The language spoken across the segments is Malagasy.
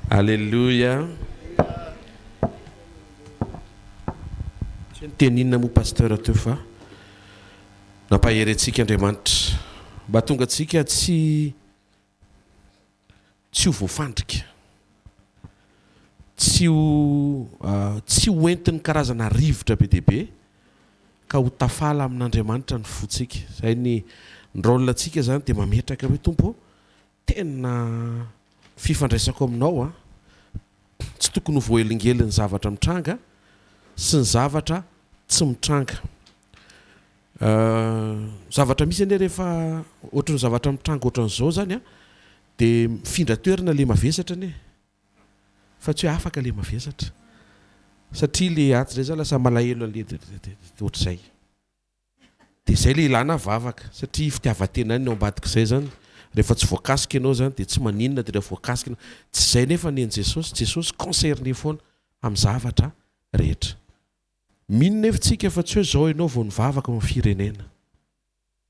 Aleloia Tsy niteny inona moa Pasteur teo fa nampahery antsika Andriamanitra mba hatonga antsika tsy tsy ho voafandrika, tsy ho tsy ho entin'ny karazana rivotra be dia be ka ho tafala amin'Andriamanitra ny fontsika. Izay ny ny rôle antsika izany dia mametraka hoe Tompo ô Tena fifandraisako aminao a! Tsy tokony ho voaelingelin'ny zavatra mitranga sy ny zavatra tsy mitranga. Zavatra misy anie rehefa ohatran'ny zavatra mitranga ohatran'izao zany a dia mifindra toerana le mavesatra anie fa tsy hoe afaka le mavesatra satria le atsy ndray zany lasa malahelo anle ohatr'izay. Dia zay le ilana vavaka satria fitiavantenany ny ao ambadik'izay zany rehefa tsy voakasika ianao zany dia tsy maninona dia raha voakasika ianao tsy izay nefa ny an'i Jesosy, Jesosy concerné foana amin'ny zavatra rehetra. Mino nefa tsika fa tsy hoe zao ianao vao nivavaka ho an'ny firenena,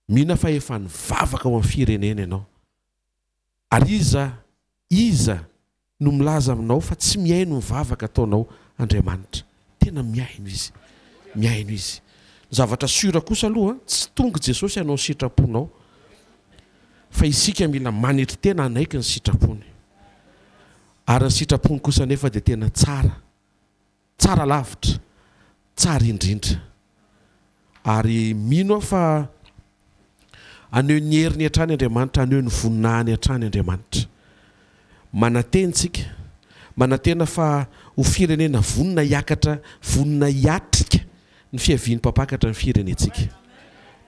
mino fa efa nivavaka ho an'ny firenena ianao ary iza iza no milaza aminao fa tsy mihaino ny vavaka ataonao Andriamanitra. Tena mihaino Izy. Mihaino Izy. Ny zavatra sûr kosa aloha, tsy tonga i Jesosy hanao ny sitraponao, fa isika mila manetry tena hanaiky ny sitrapony. Ary ny sitrapony kosa anefa dia tena tsara. Tsara lavitra, tsara indrindra. Ary mino aho fa haneho ny heriny hatrany Andriamanitra, haneho ny voninahiny hatrany Andriamanitra. Manantena isika, manantena fa ho firenena vonona hiakatra, vonona hiatrika ny fiavian'ny Mpampakatra ny firenentsika.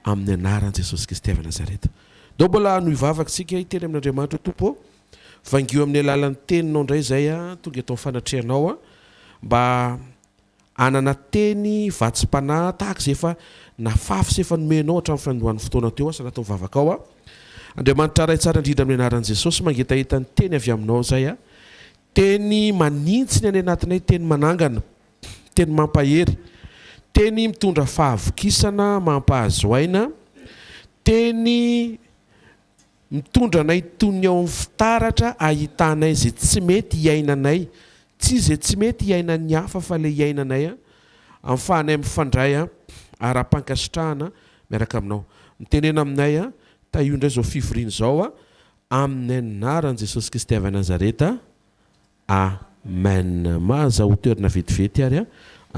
Amin'ny anaran'i Jesosy Kristy avy Nazareta. Dao mbola hanohy vavaka isika hiteny amin'Andriamanitra Tompo ô. Vangio amin'ny alalan'ny teninao indray izay aho, tonga eto amin'ny fanatrehanao aho mba hanana teny vatsim-panahy tahaka izay efa nafafy sy efa nomenao hatramin'ny fanindroan'ny fotoana teo aho sy anatin'ny vavakao aho. Andriamanitra Ray tsara indrindra amin'ny anaran'i Jesosy, mangetaheta ny teny avy aminao izay aho, teny manintsy ny any anatinay, teny manangana, teny mampahery, teny mitondra fahavokisana mampahazo aina, teny Mitondra anay toy ny ao amin'ny fitaratra ahitanay izay tsy mety hiainanay, tsy izay tsy mety hiainan'ny hafa fa ilay hiainanay ahafahanay mifandray ara-pankasitrahana miaraka aminao. Mitenena aminay, tahio indray izao fivoriana izao, amin'ny anaran'i Jesosy Kristy avy Nazareta, Amen maza ho toerina vetivety ary a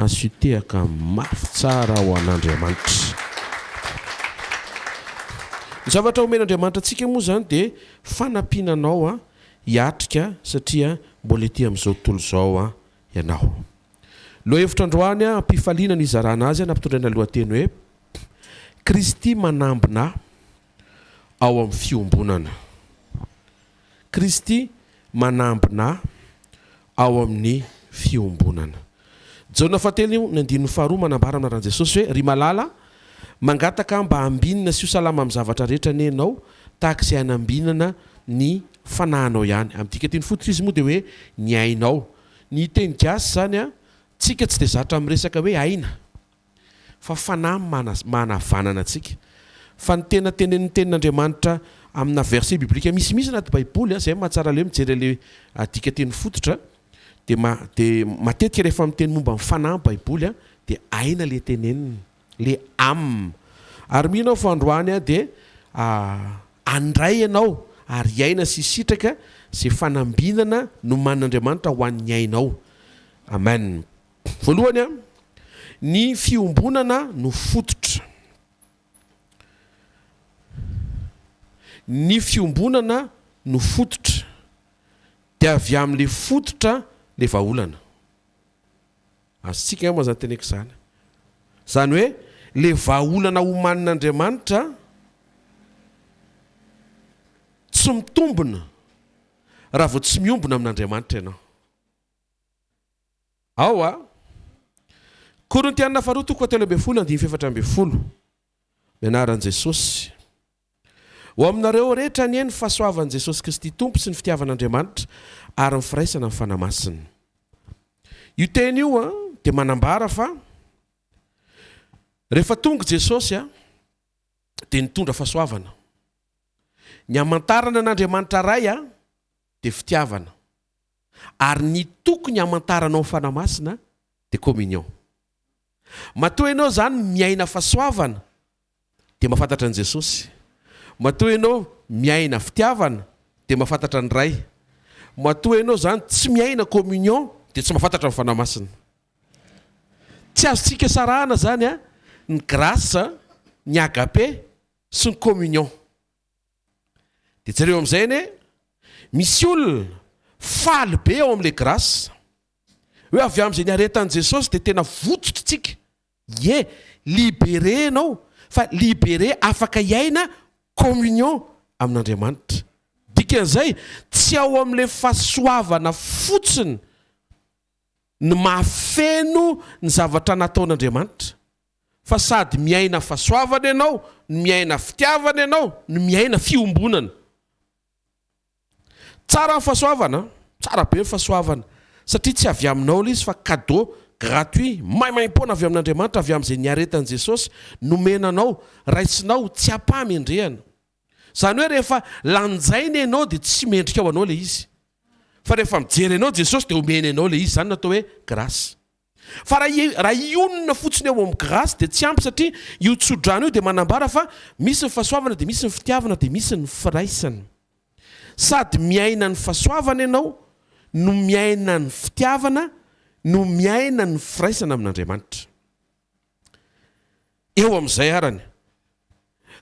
asutehaka mafy tsara ho an'Andriamanitra. Ny zavatra omen'Andriamanitra antsika moa izany dia fanampiana anao a hiatrika satria mbola ety amin'izao tontolo izao a ianao. Lohahevitra androany a am-pifaliana ny hizarana azy a nampitondraina lohateny hoe Kristy manambina ao amin'ny fiombonana. Kristy manambina ao amin'ny fiombonana. Jaona fahatelo ny andininy faharoa manambara amin'ny anaran'i Jesosy hoe, Ry malala, mangataka mba ambinina sy ho salama amin'ny zavatra rehetra anie ianao, tahaka izay hanambinana ny fanahinao ihany. Amin'ny dikanteny fototra izy moa dia hoe ny ainao. Ny teny gasy izany, tsika tsy dia zatra miresaka hoe aina. fa fanahy manavanana antsika, fa ny tena tenenin'ny tenin'Andriamanitra amina verset biblique misimisy anaty baiboly, zay mahatsara le mijery anle adika teny fototra, de de matetika rehefa miteny momba ny fanahy ny baiboly a, de aina le teneniny, le am, ary mino aho fa androany a de andray ianao ary hiaina sy hisitraka ze fanambinana nomanin'Andriamanitra ho an'ny ainao, amen. Voalohany, ny fiombonana no fototra. Ny fiombonana no fototra, dia avy amin'ilay fototra ilay vahaolana. Azontsika angamba izany teneko izany. Izany hoe ilay vahaolana omanin'Andriamanitra tsy mitombina raha vao tsy miombona amin'Andriamanitra ianao. Ao a. Korintiana faharoa toko fahatelo ambin'ny folo andininy fahefatra ambin'ny folo. Ny anaran'i Jesosy. Ho aminareo rehetra anie ny fahasoavan'i Jesosy Kristy Tompo sy ny fitiavan'Andriamanitra ary ny firaisana amin'ny Fanahy Masina. Io teny io a dia manambara fa rehefa tonga i Jesosy a dia nitondra fahasoavana. Ny hamantarana an'Andriamanitra Ray a dia fitiavana. Ary ny tokony hamantaranao Fanahy Masina dia communion. Matoa ianao izany miaina fahasoavana dia mahafantatra an'i Jesosy. Matoa ianao miaina fitiavana dia mahafantatra ny Ray. Matoa ianao izany tsy miaina communion dia tsy mahafantatra ny Fanahy Masina. Tsy azontsika sarahana izany ny grâce, ny agape sy ny communion. Dia jereo amin'izay anie, misy olona faly be ao amin'ilay grâce. Hoe avy amin'izay niaretan'i Jesosy dia tena votsotr'tsika. Ie, libéré ianao, fa libéré afaka hiaina communion amin'Andriamanitra. Dikan'izay, tsy ao amin'ilay fahasoavana fotsiny. ny mahafeno ny zavatra nataon'Andriamanitra, fa sady miaina fahasoavana ianao, no miaina fitiavana ianao, no miaina fiombonana. Tsara ny fahasoavana an! Tsara be ny fahasoavana, satria tsy avy aminao ilay izy fa cadeau gratuit, maimaimpoana avy amin'Andriamanitra, avy amin'izay niaretan'i Jesosy, nomena anao, raisinao, tsy am-pahamendrehana. Izany hoe rehefa lanjaina ianao dia tsy mendrika ho anao ilay izy. Fa rehefa mijery anao Jesosy dia omeny anao ilay izy. Izany no atao hoe grâce. Fa raha hionona fotsiny ao amin'ny grâce dia tsy ampy satria io tso-drano io dia manambara fa misy ny fahasoavana dia misy ny fitiavana dia misy ny firaisana. Sady miaina ny fahasoavana ianao no miaina ny fitiavana no miaina ny firaisana amin'Andriamanitra. eo amin'izay arany.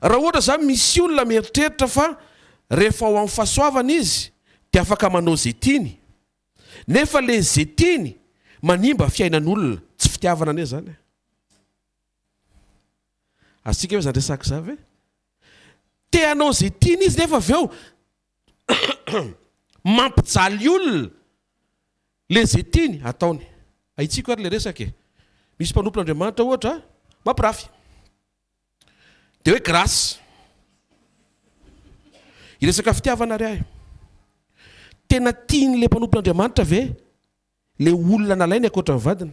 Raha ohatra izany misy olona mieritreritra fa rehefa ao amin'ny fahasoavana izy dia afaka manao izay tiany, nefa ilay izay tiany manimba fiainan'olona, tsy fitiavana anie izany e! Azontsika ve izany resaka izany ve? Te hanao izay tiany izy nefa avy eo Mampijaly olona le ze tiany ataony. Ahitsiko ary le resaka e. Misy mpanompon'Andriamanitra ohatra mampirafy. De hoe grâce. Hiresaka fitiavana ary ahy. Tena tian'le mpanompon'Andriamanitra ve le olona nalainy ankoatran'ny vadiny?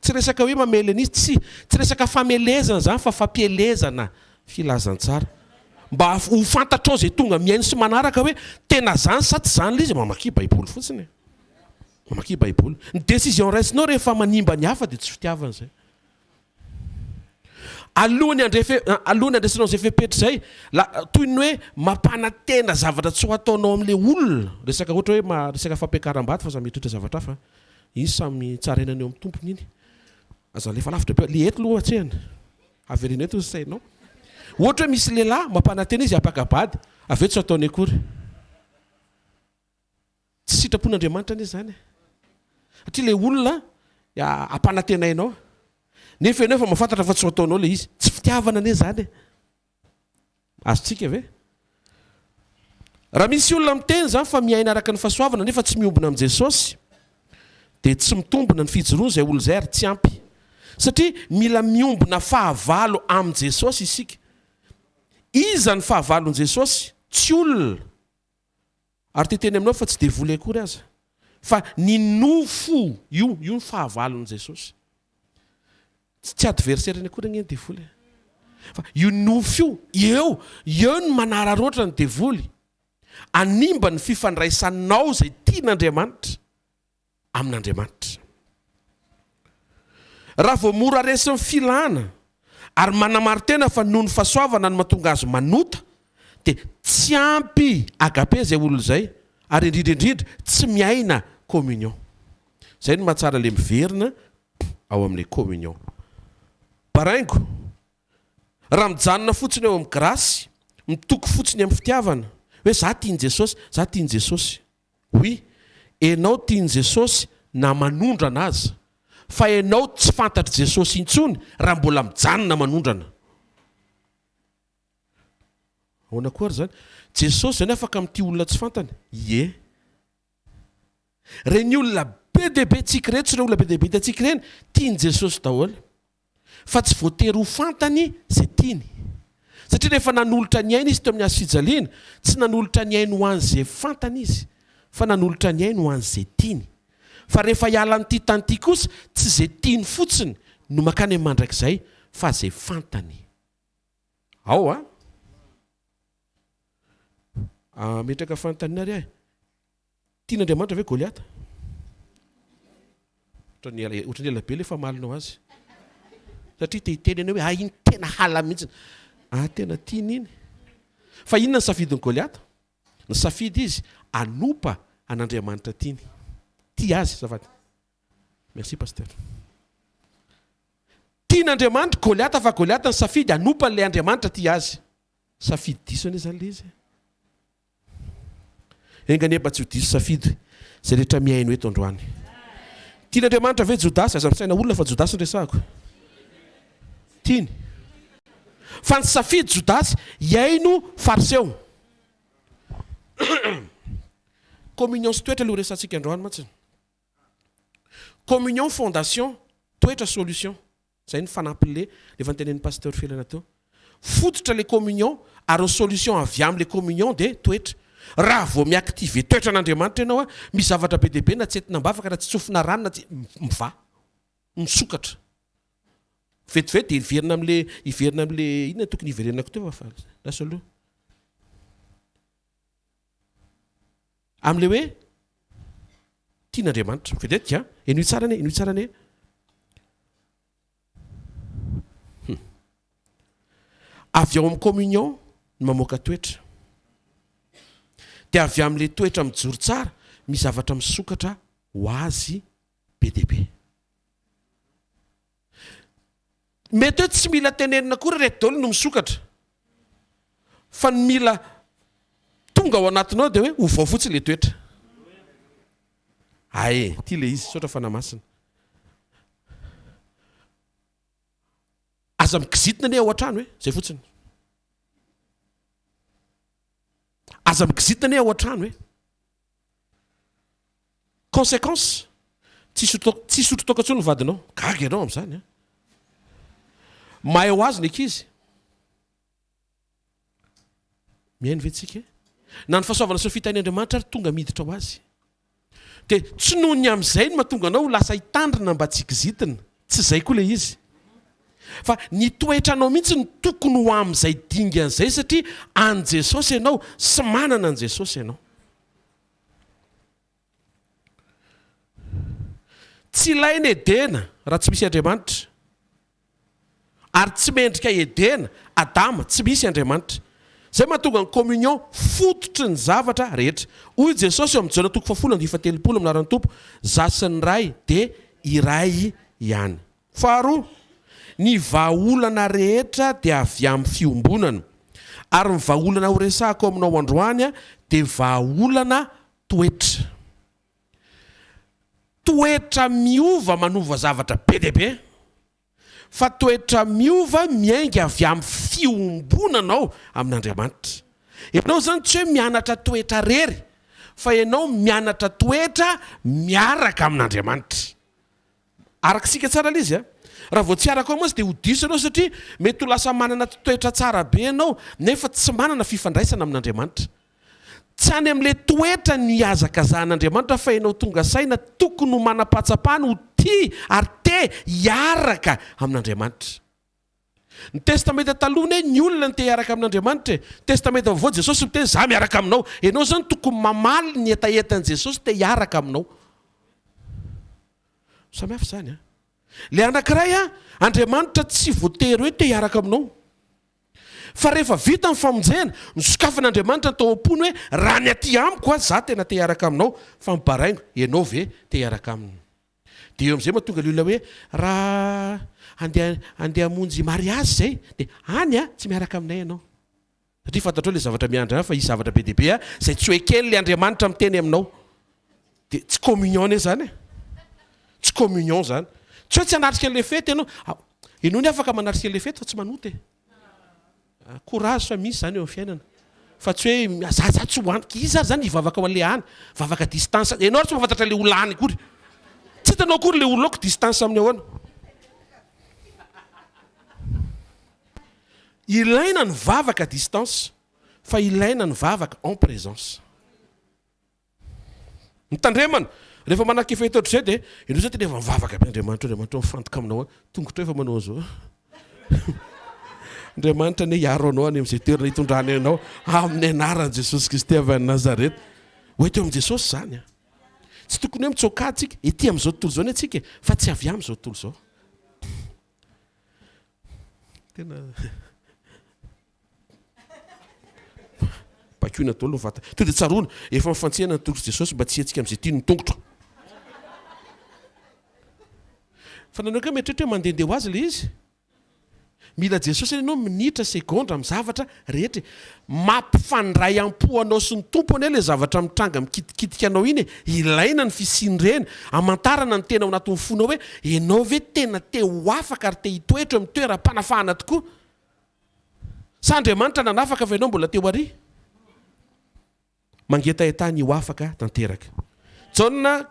Tsy resaka hoe mamely an'iza, tsia, tsy resaka famelezana izany fa fampielezana filazantsara mba ho fantatrao izay tonga mihaino sy manaraka hoe tena izany sa tsy izany ilay izy, mamakia baiboly fotsiny e! mamakia baiboly, ny decision raisinao rehefa manimba ny hafa dia tsy fitiavana izay. Alohan'ny handrefe, alohan'ny handresenao izay fepetra izay, la, toy ny hoe mampanantena zavatra tsy ho ataonao amin'ilay olona, resaka ohatra hoe resaka fampiakaram-bady fa samy hitoetra zavatra hafa, Izy samy tsarainany eo amin'ny tompony iny. Aza alefa lavitra be. Le eto aloha atsehana. Avereno eto ny sainao. Ohatra hoe misy lehilahy mampanantena izy hapaka bady, avy eo tsy ataony akory. Tsy sitrapon'Andriamanitra anie izany e. Satria le olona ampanantenainao, nefa ianao efa mahafantatra fa tsy ho ataonao le izy. Tsy fitiavana anie izany e. Azontsika ve? Raha misy olona miteny izany fa miaina araka ny fahasoavana nefa tsy miombona amin'i Jesosy, dia tsy mitombina ny fijoroany izay olona izay ary tsy ampy. Satria mila miombona fahavalo amin'i Jesosy isika. Iza ny fahavalon'i Jesosy? Tsy olona. Ary te teny aminao fa tsy devoly akory aza, fa ny nofo, io io ny fahavalon'i Jesosy. Tsy adversaire-ny akory anie ny devoly e. Fa io nofo io, eo, eo no manararaotra ny devoly, hanimba ny fifandraisanao izay tian'Andriamanitra. amin'Andriamanitra. Raha vao mora resin'ny filana ary manamaro-tena fa noho ny fahasoavana no mahatonga azy manota, dia tsy ampy agape izay olona izay, ary indrindra indrindra tsy miaina communion. Izay no mahatsara ilay miverina ao amin'ilay communion. Baraingo, raha mijanona fotsiny eo amin'ny grasy, mitoky fotsiny amin'ny fitiavana, hoe za tian'i Jesosy, za tian'i Jesosy. Oui, enao tian'i Jesosy na manondrana aza, fa enao tsy fantatr'i Jesosy intsony raha mbola mijanona manondrana. Ahoana koa ary izany? Jesosy izany afaka mitia olona tsy fantany? Ie. Ireny olona be dia be antsika ireny, tsy ireny olona be dia be hitantsika ireny, tian'i Jesosy daholo. fa tsy voatery ho fantany izay tiany. Satria rehefa nanolotra ny ainy izy teo amin'ny hazo fijaliana, tsy nanolotra ny ainy ho an'izay fantany izy, fa nanolotra ny ainy ho an'izay tiany. Fa rehefa hiala an'ity tany ity kosa, tsy izay tiany fotsiny no mankany amin'ny mandrakizay, fa izay fantany. Ao a! Ametraka fanontaniana ary aho e! Tian'Andriamanitra ve Goliata? Ohatran'ny ela ohatran'ny ela be ilay famalinao azy. Satria te hiteny ianao hoe ah iny tena hala mihitsy. Ah tena tiany iny. Fa inona ny safidin'i Goliata? Nisafidy izy hanompa an'Andriamanitra tiany. Tia azy azafady. Merci pasteur. Tian'Andriamanitra Goliata fa Goliata nisafidy hanompa an'ilay Andriamanitra tia azy. Safidy diso anie izany ilay izy. Enga anie mba tsy ho diso safidy izay rehetra mihaino eto androany. Tian' Andriamanitra ve Jodasy? Aza misaina olona fa Jodasy no resahako. Tiany. Fa nisafidy Jodasy hihaino Fariseo. Communion sy toetra ilay ho resahantsika androany mantsy. Communion, fondation, toetra, solution. Zay ny fanampiny le efa notenenin'i Pasteur Felana teo. Fototra le communion ary solution avy am le communion de toetra. Raha vao mi-activer toetra an'Andriamanitra ianao a, misy zavatra be dia be na tsy entina am-bavaka na tsy tsofina rano na tsy, mivaha. Misokatra. Vetivety dia hiverina am le, hiverina am le, inona no tokony hiverenako teo fa, lasa aloha. Amin'ilay hoe tian'Andriamanitra. Vedette a! Henoy tsara anie, henoy tsara anie. Hum. Avy ao amin'ny communion ny mamoaka toetra. Dia avy amin'ilay toetra mijoro tsara, misy zavatra misokatra ho azy be dia be. Mety hoe tsy mila tenenina akory ireto daholo no misokatra. Fa ny mila tonga ao anatinao dia hoe ovao fotsiny ilay toetra. Ae, ity ilay izy, misaotra Fanahy Masina. Aza mikizitina anie ao an-trano e, izay fotsiny. Aza mikizitina anie ao an-trano e. Consequence, tsy hisotro toaka intsony ny vadinao. Gaga ianao amin'izany an! Mahay ho azy ny ankizy. Mihaino ve tsika? Na ny fahasoavana sy ny fitahian' Andriamanitra ary tonga miditra ho azy. Dia tsy noho ny amin'izay no mahatonga anao ho lasa hitandrina mba tsy kizitina. Tsy zay koa le izy. Fa ny toetranao mihitsy no tokony ho amin'izay dingana izay satria an'i Jesosy ianao sy manana an'i Jesosy ianao. Tsy ilaina Edena raha tsy misy Andriamanitra. Ary tsy mendrika Edena, Adama, tsy misy Andriamanitra. Izay mahatonga ny communion fototry ny zavatra rehetra. Hoy Jesosy eo amin'ny Jaona toko fahafolo andihy fahatelopolo amin'ny laharan'ny Tompo, Za sy ny Ray dia iray ihany. Faharoa, ny vahaolana rehetra dia avy amin'ny fiombonana. Ary ny vahaolana horesahako aminao androany dia vahaolana toetra. Toetra miova manova zavatra be dia be. fa toetra miova miainga avy amin'ny fiombonanao amin'Andriamanitra. Ianao izany tsy hoe mianatra toetra rery fa ianao mianatra toetra miaraka amin'Andriamanitra. Araka isika tsara ilay izy a! Raha vao tsy araka ao mantsy dia ho diso ianao satria mety ho lasa manana toetra tsara be ianao nefa tsy manana fifandraisana amin'Andriamanitra. Tsy any amin'ilay toetra nihazakazahan'Andriamanitra fa ianao tonga saina tokony ho manam-pahatsapana ho tia ary te hiaraka amin'Andriamanitra. Ny Testamenta Taloha anie ny olona no te hiaraka amin'Andriamanitra e. Testamenta Vaovao Jesosy miteny za miaraka aminao. Ianao zany tokony mamaly ny hetahetan'i Jesosy te hiaraka aminao. Samy hafa zany an. Ilay anakiray an, Andriamanitra tsy voatery hoe te hiaraka aminao. Fa rehefa vita ny famonjena, nosokafan'Andriamanitra tao am-pony hoe, Raha ny aty amiko aza, izaho tena te-hiaraka aminao, fa mibaraingo, ianao ve te-hiaraka aminy? Dia eo amin'izay mahatonga ilay olona hoe, Raha handeha handeha hamonjy mariazy izay, dia any an, tsy miaraka aminay ianao. Satria fantatrao ilay zavatra miandry anao, fa hisy zavatra be dia be izay tsy ho eken'ilay Andriamanitra miteny aminao. Dia tsy communion anie izany e! Tsy communion izany. Tsy hoe tsy hanatrika an'ilay fety ianao. Ianao afaka manatrika an'ilay fety fa tsy manota e! Courage fa misy izany eo amin'ny fiainana. Fa tsy hoe za za tsy ho any. Iza ary izany hivavaka ho an'ilay any? Vavaka distance. Ianao ary tsy mahafantatra ilay olona any akory. Tsy hitanao akory ilay olona ao ka distance amin'ny ahoana? Ilaina ny vavaka distance fa ilaina ny vavaka en présence. Ny tandremana, rehefa manak'efa hita ohatr'izay dia ianao izao dia efa mivavaka be, Andriamanitra o, Andriamanitra o, mifantoka aminao aho, tongotra eo efa manao an'izao, Andriamanitra anie hiaro anao any amin'izay toerana hitondrany anao amin'ny anaran'i Jesosy Kristy avy any Nazareth. Ho ety eo amin'i Jesosy izany an! Tsy tokony hoe mitsoak'ady tsika, ety amin'izao tontolo izao anie tsika e, fa tsy avy amin'izao tontolo izao. Tena. Bakoina daholo ny vatana. Tonga dia tsaroana, efa mifantsena ny tongotr'i Jesosy mba tsy hihetsika amin'izay tiany ny tongotro. Fa nahoana koa mieritreritra hoe mandehandeha ho azy ilay izy? Mila Jesosy anie ianao minitra, segondra, amin'ny zavatra rehetra e! Mampifandray am-po anao sy ny Tompo anie ilay zavatra mitranga mikitikitika anao iny e! Ilaina ny fisian'ireny, hamantarana ny tena ao anatin'ny fonao hoe ianao ve tena te ho afaka ary te hitoetra eo amin'ny toeram-panafahana tokoa? Sa Andriamanitra nanafaka fa ianao mbola teo àry? Mangetahetaha ny ho afaka tanteraka. Jaona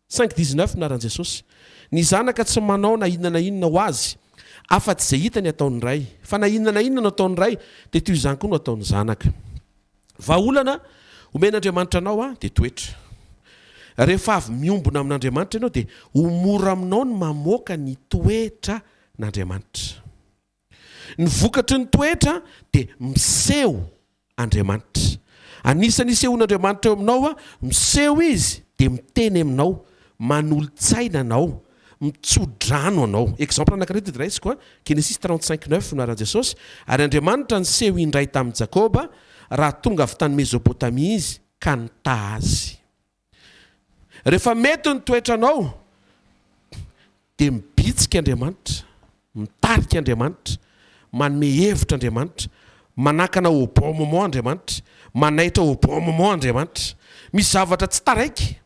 cinq dix neuf Naran'i Jesosy ny Zanaka tsy manao na inona na inona ho Azy afa-tsy izay hitany ataon'ny Ray, fa na inona na inona no ataon'ny Ray dia toy izany koa no ataon'ny Zanaka. Vahaolana omen'Andriamanitra anao aho dia toetra. Rehefa avy miombona amin'Andriamanitra ianao dia ho mora aminao ny mamoaka ny toetran'Andriamanitra. Ny vokatry ny toetra dia miseho Andriamanitra. Anisan'ny isehoan'Andriamanitra eo aminao, miseho Izy dia miteny aminao, manolo-tsaina anao, mitso-drano anao. Exemple anankiray tody raisiko a, Genesis trente cinq neuf no anaran'i Jesosy, Ary Andriamanitra niseho indray tamin'i Jakoba, raha tonga avy tany Mezopotamia Izy, ka nitaha azy. Rehefa mety ny toetranao dia mibitsika Andriamanitra, mitarika Andriamanitra, manome hevitra Andriamanitra, manakana au bon moment Andriamanitra, manaitra au bon moment Andriamanitra. Misy zavatra tsy taraiky.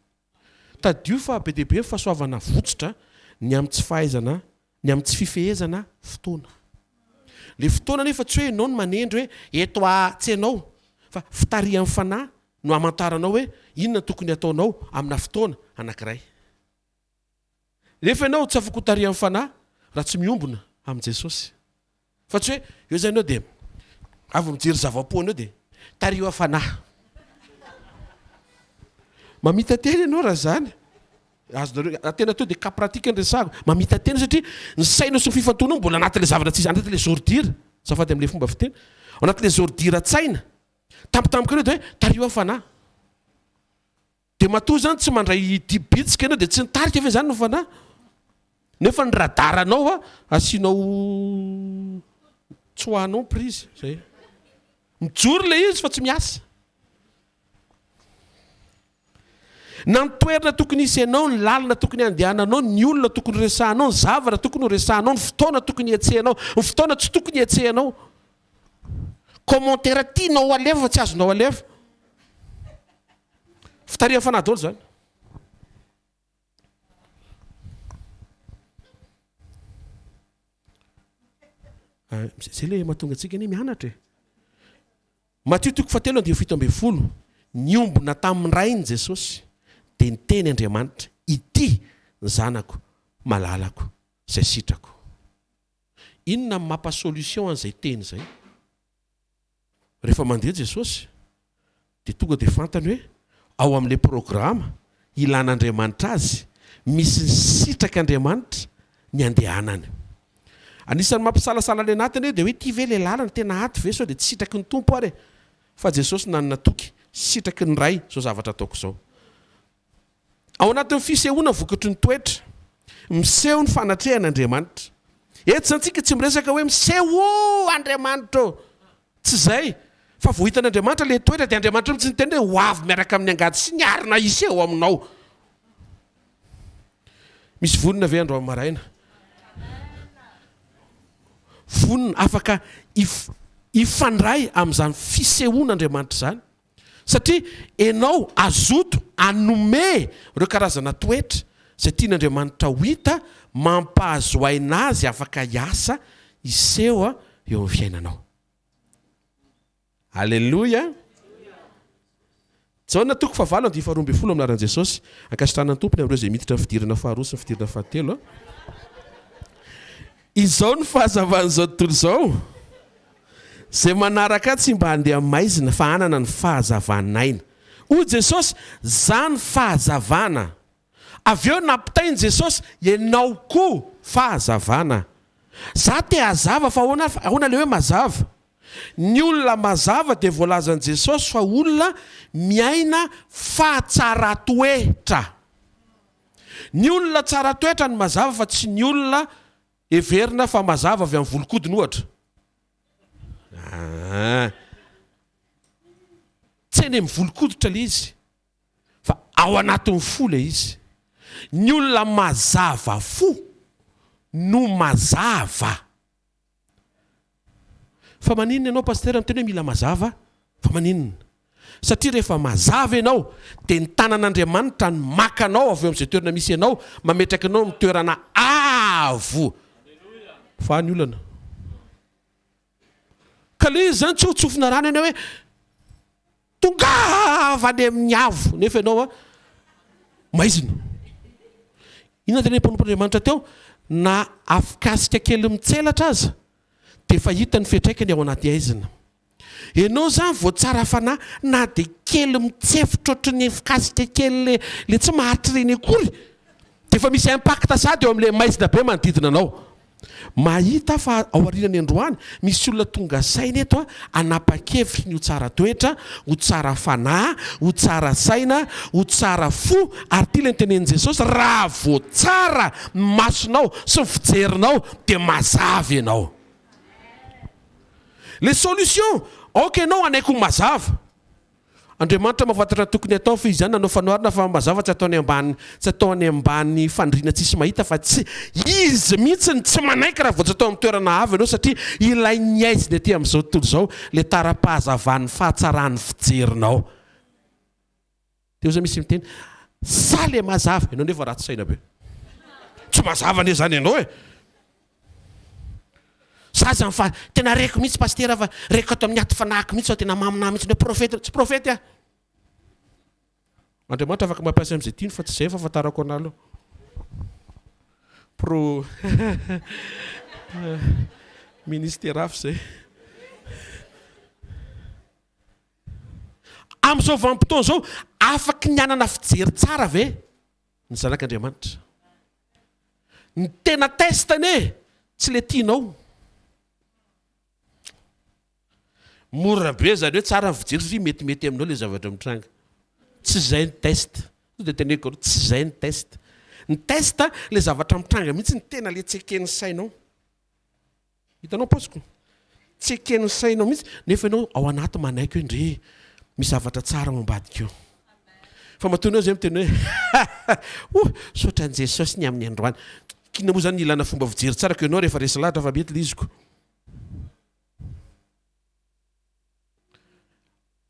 Tadidio fa be dia be ny fahasoavana avotsotra ny amin'ny tsy fahaizana Ny amin'ny tsy fifehezana fotoana. Ilay fotoana anefa tsy hoe ianao no manendry hoe eto a, tsy ianao, fa fitarihan'ny Fanahy no hamantaranao hoe inona no tokony hataonao amina fotoana anankiray. Nefa ianao tsy afaka hotarihan'ny Fanahy raha tsy miombona amin'i Jesosy. Fa tsy hoe eo zany eo de avy mijery zava-poana eo de tariho hafana. Mamita tena ianao raha zany. Azonareo raha tena tonga de cas pratique ny resahako. Mamita tena satria ny sainao sy ny fifantohanao mbola anatin'ilay zavatra tsy anatin'ilay les ordures, azafady amin'ilay fomba fiteny, ao anatin'ilay les ordures an-tsaina. Tampotampoka eo de hoe tariho hafana. Dia matoa izany tsy mandray ity bitsika ianao dia tsy nitarika ve izany ny Fanahy? Nefa ny radaranao asianao tsoahanao ny prizy. Izay. Mijoro ilay izy fa tsy miasa. Na ny toerana tokony hisy ianao, ny lalana tokony handehananao, ny olona tokony horesahanao, ny zavatra tokony horesahanao, ny fotoana tokony hihetsehanao, ny fotoana tsy tokony hihetsehanao. Commentaire tianao alefa fa tsy azonao alefa. Fitarihan'ny fanahy daholo izany. Ah, zay le mahatonga antsika anie mianatra e. Matio toko fahatelo andia fito ambin'ny folo. Niombona tamin'ny rainy Jesosy dia niteny Andriamanitra, ity ny zanako malalako izay sitrako. Inona no mampa solution an'izay teny izay? Rehefa mandeha Jesosy dia tonga dia fantany hoe ao amin'ilay programa ilan'Andriamanitra azy, misy ny sitrak'Andriamanitra ny andehanany. Anisan'ny mampisalasala ny anatiny hoe dia hoe ity ve ilay lalana tena ato ve sao dia tsy sitraky ny Tompo ary e? Fa Jesosy nanana toky, sitraky ny Ray izao zavatra ataoko izao. Ao anatin'ny fisehoana vokatry ny toetra, miseho ny fanatrehan'Andriamanitra. Eto izany tsika tsy miresaka hoe miseho o Andriamanitra ô! Tsy izay, fa vao hitan'Andriamanitra ilay toetra dia Andriamanitra mihitsy niteny hoe ho avy miaraka amin'ny angady sy ny arina hiseho aminao. Misy vonona ve androany maraina? Vonona, afaka hifandray amin'izany fisehoan'Andriamanitra izany. Satria enao azoto anome ireo karazana toetra izay tian' Andriamanitra ho hita mampahazo aina azy afaka hiasa hiseho eo amin'ny fiainanao. Aleloia! Jaona toko fahavalo andinin'ny faharoa ambin'ny folo amin'ny anaran'i Jesosy. Ankasitrahana ny Tompo ny amin'ireo izay miditra ny fidirana faharoa sy ny fidirana fahatelo. Izao ny fahazavan'izao tontolo izao, Izay manaraka Ahy tsy mba handeha maizina, fa hanana ny fahazavan'aina. Hoy Jesosy, Zah no fahazavana. Avy eo nampitainy Jesosy, Ianao koa fahazavana. Zah te hazava, fa ahoana, ahoana ilay hoe mazava? Ny olona mazava dia voalazan'i Jesosy fa olona miaina fahatsaran-toetra. Ny olona tsara toetra no mazava fa tsy ny olona heverina fa mazava avy amin'ny volon-kodiny ohatra. Aa. Tsy eny amin'ny volon-koditra ilay izy fa ao anatin'ny fo ilay izy. Ny olona mazava fo no mazava. Fa maninona ianao Pasitera miteny hoe mila mazava? Fa maninona? Satria rehefa mazava ianao dia ny tanan'Andriamanitra no maka anao avy eo amin'izay toerana misy anao mametraka anao amin'ny toerana avo. Fa ny olana. Ka le izy zany tsy ho tsofina rano ianao hoe Tongava any amin'ny avo nefa ianao a maizina. Inona tena mpanompon'Andriamanitra teo? Na afonkasika kely mitselatra aza dia efa hita ny fiantraikany ao anaty aizina. Ianao izany vao tsara fanahy na dia kely mitsefotra ohatry ny afonkasika kely le le tsy maharitra ireny akory dia efa misy impact sady eo amin'ilay maizina be manodidina anao. Mahita aho fa aorianany androany misy olona tonga saina eto hanapa-kevitry ny ho tsara toetra, ho tsara fanahy, ho tsara saina, ho tsara fo, ary ity ilay notenenin'i Jesosy, Raha voatsara ny masonao sy ny fijerinao dia mazava ianao. Ilay solution, aoka ianao hanaiky ho mazava. Andriamanitra mahafantatra ny tokony hatao fehizay izany nanao fanoharana fa mazava tsy atao any ambany tsy atao any ambany fandriana tsisy mahita fa tsy izy mihitsy no tsy manaiky raha vao tsy atao amin'ny toerana avo ianao satria ilay ny aizina ety amin'izao tontolo izao ilay tara-pahazavan'ny fahatsaran'ny fijerinao teo zay misy miteny sa le mazava ianao nefa ratsy saina be tsy mazava anie zany ianao e! Za zany fa tena reko mihitsy pasitera fa reko ato amin'ny aty fanahiko mihitsy fa tena maminà mihitsy ny hoe profeta. Tsy profety aho. Andriamanitra afaka mampiasa amin'izay tiany fa tsy izay fahafantarako anà aloha. Pro ministera hafa izay. Amin'izao vanim-potoana izao, afaky ny hanana fijery tsara ve ny zanak'Andriamanitra? Ny tena test anie tsy le tianao. Mora be zany hoe tsara ny fijery satria metimety aminao le zavatra mitranga. Tsy izay ny test. Sao dia teneniko anao, tsy izay ny test. Ny test le zavatra mitranga mihitsy no tena le tseken'ny sainao. Hitanao paosiko? Tsy eken'ny sainao mihitsy nefa ianao ao anaty manaiky hoe ndry misy zavatra tsara ao ambadika ao. Fa matoa ianao izay miteny hoe oh saotra an'i Jesosy ny amin'ny androany. K'inona moa izany ny ilana fomba fijery tsara koa ianao rehefa resy lahatra fa mety liziko.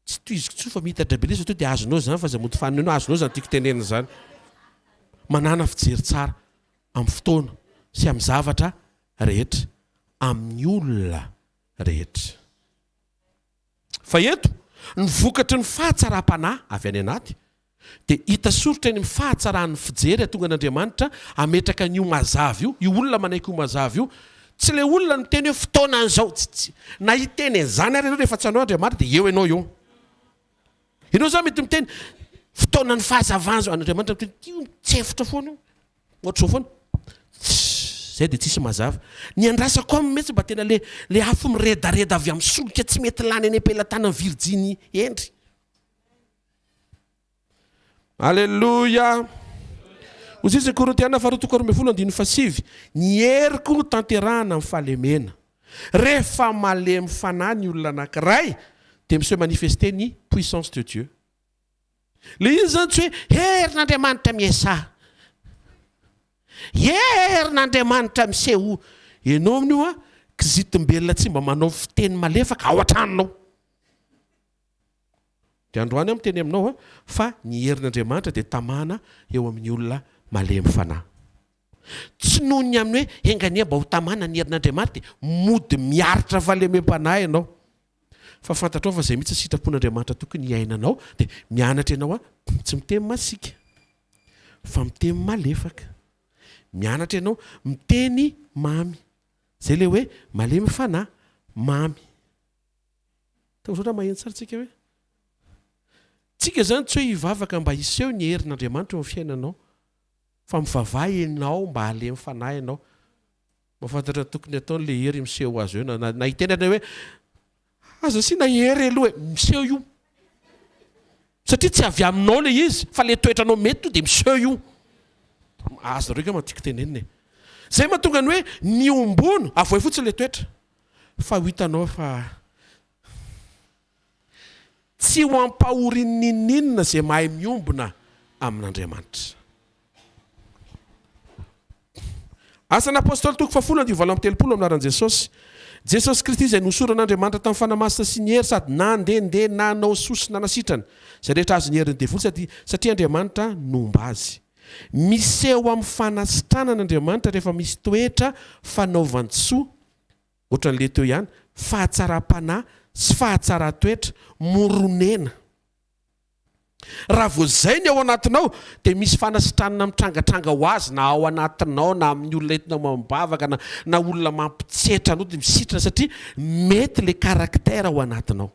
Tsy tohiziko intsony fa miitatra be lesy toa dia azonao izany fa aza mody fanoneno azonao izany tiako tenenina izany manana fijery tsara amin'ny fotoana sy amin'ny zavatra rehetra amin'ny olona rehetra fa eto ny vokatry ny fahatsaram-panahy avy any anaty Dia hita soritra eny amin'ny fahatsaran'ny fijery hatonga an'Andriamanitra hametraka an'io mazava io, io olona manaiky ho mazava io. Tsy ilay olona miteny hoe fotoana an'izao, tsy, tsy, na hiteny an'izany ary ianao rehefa tsy anao Andriamanitra dia eo ianao eo. Ianao izany mety miteny fotoanan'ny fahazavana izao, Andriamanitra miteny ity mitsefotra foana io, ohatr'izao foana. Zay dia tsisy mazava. Ny andrasako aminy mihitsy mba tena le le afo miredareda avy amin'ny solika tsy mety lany any am-pelatanan'i Virginie Hendry. Aleloia! Ozizy Korintiana faharoa toko roa ambin'ny folo andininy fahasivy, ny heriko no tanterahana amin'ny fahalemena. Rehefa malemy fanahy ny olona anankiray dia mi se manifester ny puissance de Dieu. Ilay izy izany tsy hoe herin'Andriamanitra miesaha, herin'Andriamanitra misehoa. Ianao amin'io hoa kizitim-belona tsy mba manao fiteny malefaka ao an-tranonao. Dia androany aho miteny aminao fa ny herin' Andriamanitra dia tamana eo amin' ny olona malemy fanahy. Tsy noho ny amin'ny hoe enga anie mba ho tamana ny herin' Andriamanitra dia mody miaritra fahalemem-panahy ianao. Fa fantatrao fa izay mihitsy ny sitrapon' Andriamanitra tokony hiainanao. Dia mianatra ianao hoe tsy miteny masiaka fa miteny malefaka. Mianatra ianao miteny mamy. Izay ilay hoe malemy fanahy, mamy. Tao izao raha maheno tsara tsika hoe tsika izany tsy hoe hivavaka mba hiseho ny herin'Andriamanitra eo amin'ny fiainanao fa mivavaha ianao mba halemy fanahy ianao mahafantatra ny tokony hatao ilay hery miseho azy eo na na hiteny anao hoe aza asiana hery aloha e miseho io satria tsy avy aminao ilay izy fa ilay toetra anao mety io dia miseho io azonareo angamba ny tiako tenenina e izay mahatonga ny hoe miombona avohay fotsiny ilay toetra fa ho hitanao fa tsy ho ampahorian'inon'inona izay mahay miombona amin'Andriamanitra. Asan'ny Apôstôly toko fahafolo andivo valo amby telopolo amin'ny laharan'i Jesosy. Jesosy Kristy izay nohosoran'Andriamanitra tamin'ny Fanahy Masina sy ny hery sady nandehandeha nanao soa sy nanasitrana izay rehetra azon'ny herin'ny devoly sady satria Andriamanitra nomba azy. Miseho amin'ny fanasitranana Andriamanitra rehefa misy toetra fanaovan-tsoa, ohatran'ilay teo ihany, fahatsaram-panahy sy fahatsaran-toetra, moronena. Raha vao izay ny ao anatinao, dia misy fanasitranana mitrangatranga ho azy na ao anatinao na amin'ny olona entinao mivavaka na na olona mampitsetra anao dia misitrana satria mety ilay caractère ao anatinao.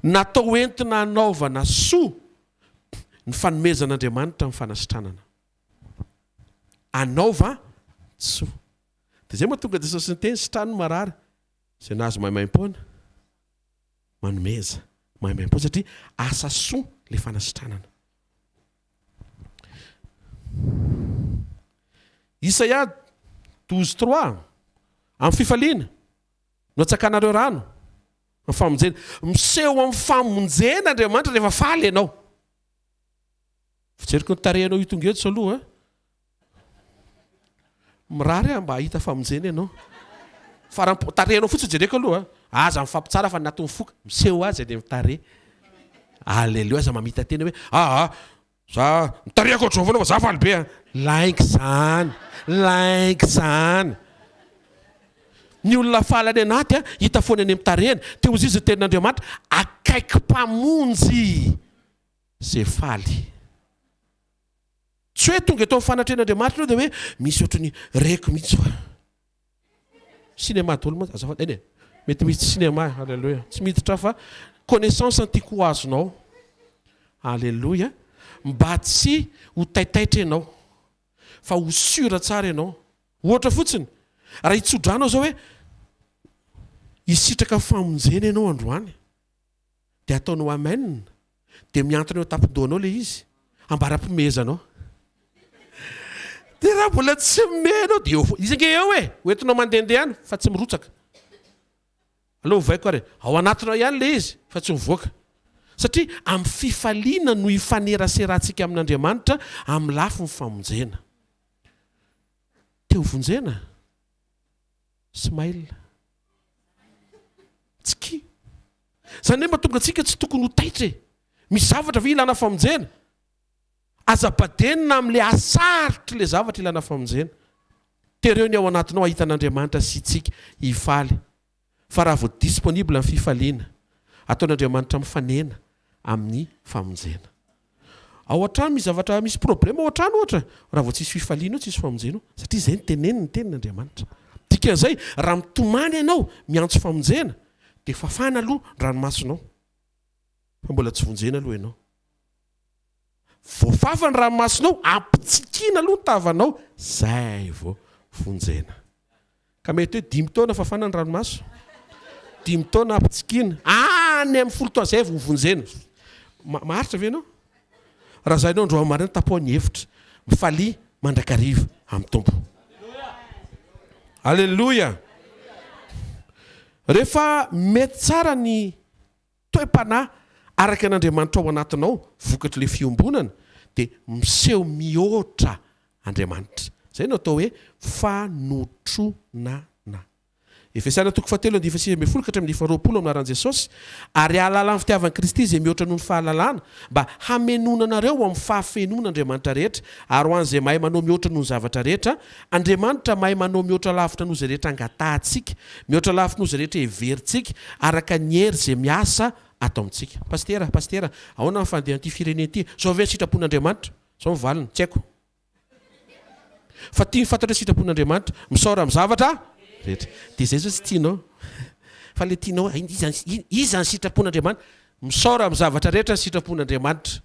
Natao ho entina hanaovana soa ny fanomezan'Andriamanitra ny fanasitranana. Anaova ny soa. Dia izay mahatonga Jesosy niteny, sitrano ny marary, izay nahazo maimaim-poana, manomeza maimaim-poana, satria asa soa ilay fanasitranana. Isaia douze trois, amin'ny fifaliana no atsakanareo rano, Ny famonjena. Miseho amin'ny famonjena Andriamanitra rehefa faly ianao. Fijeriko ny tarehinao io tonga eto aloha a. Mirary aho mba hahita famonjena ianao. Farampo, tarehinao fotsiny jereko aloha a. Aza mifampitsara fa ny ato mifoka. Miseho aza eny amin'ny tarehy. Aleloia, aza mamita-tena hoe aa Za mitarihako ohatr'izao foana fa za faly be an! Lainga izany! Lainga izany! Ny olona faly any anaty an, hita foana eny amin'ny tarehiny. Te ho zizy ny tenin'Andriamanitra, akaiky Mpamonjy izay faly. Tsy hoe tonga eto amin'ny fanatrehan'Andriamanitra ianao dia hoe, misy ohatry ny reko mihitsy fa. Cinéma daholo mantsy azafady eny e! Mety misy cinéma e! Alléluia! Tsy miditra aho fa connaissance no tiako ho azonao. Alléluia! Mba tsy ho taitaitra ianao fa ho sûr tsara ianao. Ohatra fotsiny, raha hitso-drano aho izao hoe hisitraka famonjena ianao androany. Dia ataonao amen dia mihantona eo an-tampon-dohanao ilay izy, ambara am-pimehezanao. Dia raha mbola tsy mimehy ianao dia eo foana. Izy ange eo e! Ho entinao mandehandeha ihany fa tsy mirotsaka. Aleo ovaiko ary e! Ao anatinao ihany ilay izy fa tsy mivoaka. Satria amin'ny fifaliana no ifaneraserantsika amin'Andriamanitra amin'ny lafiny famonjena. Te ho vonjena? Smile. Tsikia. Izany hoe mba tonga antsika tsy tokony ho taitra e! Misy zavatra ve ilana famonjena? Aza badenina amin'ilay hahasaritr'ilay zavatra ilana famonjena. Tereo ny ao anatinao hahita an'Andriamanitra sy itsika hifaly. Fa raha vao disponible ny fifaliana, ataon'Andriamanitra mifanena amin'ny famonjena. Ao an-trano misy zavatra misy problème ao an-trano ohatra, raha vao tsisy fifaliana eo, tsisy famonjena eo, satria izay no teneniny ny tenin'Andriamanitra. Dikan'izay, raha mitomany ianao, miantso famonjena, dia fafana aloha ny ranomasonao, fa mbola tsy vonjena aloha ianao. Voafafa ny ranomasonao, ampitsikiana aloha ny tavanao, izay vao vonjena. Ka mety hoe dimy taona fafana ny ranomaso, dimy taona ampitsikiana, any amin'ny folo taona zay vao vonjena. Maharitra ve ianao? Raha zay ianao androany maraina tapoha ny efitra. Mifalia mandrakariva amin'ny Tompo. Aleloia! Rehefa mety tsara ny toe-panahy araka an' Andriamanitra ao anatinao vokatr' ilay fiombonana dia miseho mihoatra Andriamanitra. Izay no atao hoe fanotronana. Efesana toko fahatelo andininy fahasivy ambin'ny folo ka hatramin'ny faharoapolo amin'ny anaran' Jesosy, ary ahalala ny fitiavan' Kristy izay mihoatra noho ny fahalalana, mba hamenoana anareo ho amin'ny fahafenoan' Andriamanitra rehetra, ary ho an' izay mahay manao mihoatra noho ny zavatra rehetra, Andriamanitra mahay manao mihoatra lavitra noho izay rehetra angatahantsika, mihoatra lavitry noho izay rehetra heverintsika, araka ny hery izay miasa ato amintsika. Pasitera, Pasitera, ahoana ny fandehan'ity firenena ity? Zao ve ny sitrapon'Andriamanitra? Zao ny valiny, tsy haiko. Fa tiany fantatrao sitrapon'Andriamanitra, misaora amin'ny zavatra rehetra. Dia izay zao tsy tianao. Fa ilay tianao hoe iza, iza ny sitrapon'Andriamanitra? Misaora amin'ny zavatra rehetra ny sitrapon'Andriamanitra.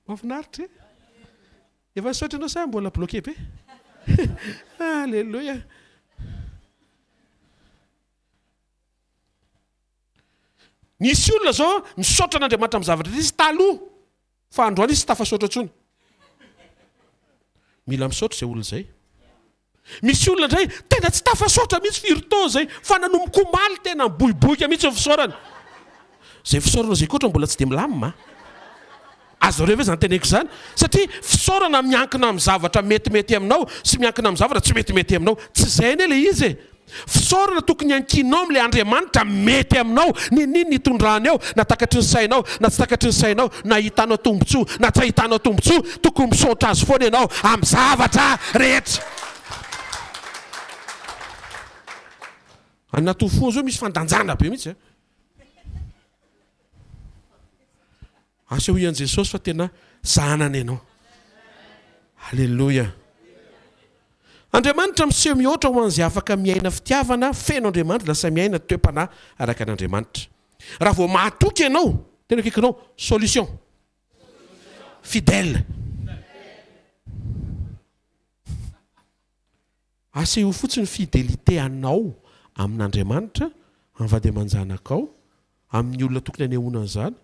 Mahafinaritra e! Efa nisaotra anao sa mbola bloqué be? Alléluia! Nisy olona zao misaotra an'Andriamanitra amin'ny zavatra nisy taloha fa androany izy tsy tafasaotra intsony. Mila misaotra izay olona izay. Misy olona indray tena tsy tafasaotra mihitsy firy taona izay fa nanomboka omaly tena miboiboika mihitsy ny fisaorany. Izay fisaorana izay koa ohatran'ny mbola tsy dia milamina an! Azonareo ve izany teneniko izany? Satria fisaorana miankina amin'ny zavatra metimety aminao sy miankina amin'ny zavatra tsy metimety aminao. Tsy izay anie ilay izy e! Fisaorana tokony hankinao amin'ilay Andriamanitra mety aminao, ninin ny hitondrany eo, na takatry ny sainao na tsy takatry ny sainao, na ahitanao tombontsoa na tsy ahitanao tombontsoa, tokony misaotra Azy foana ianao amin'ny zavatra rehetra. Any Anatohofo zao misy fandanjana be mihitsy a. Asehoy an'i Jesosy fa tena zanany ianao. Aleloia. Andriamanitra miseho mihoatra ho an'izay afaka miaina fitiavana feno Andriamanitra, lasa miaina toe-panahy araka an'Andriamanitra. Raha vao mahatoky ianao, tena akaikinao, solution. Fidèle. Asehoy fotsiny ny fidelite anao amin'Andriamanitra, amin'ny vady aman-janakao, amin'ny olona tokony anehoana an'izany.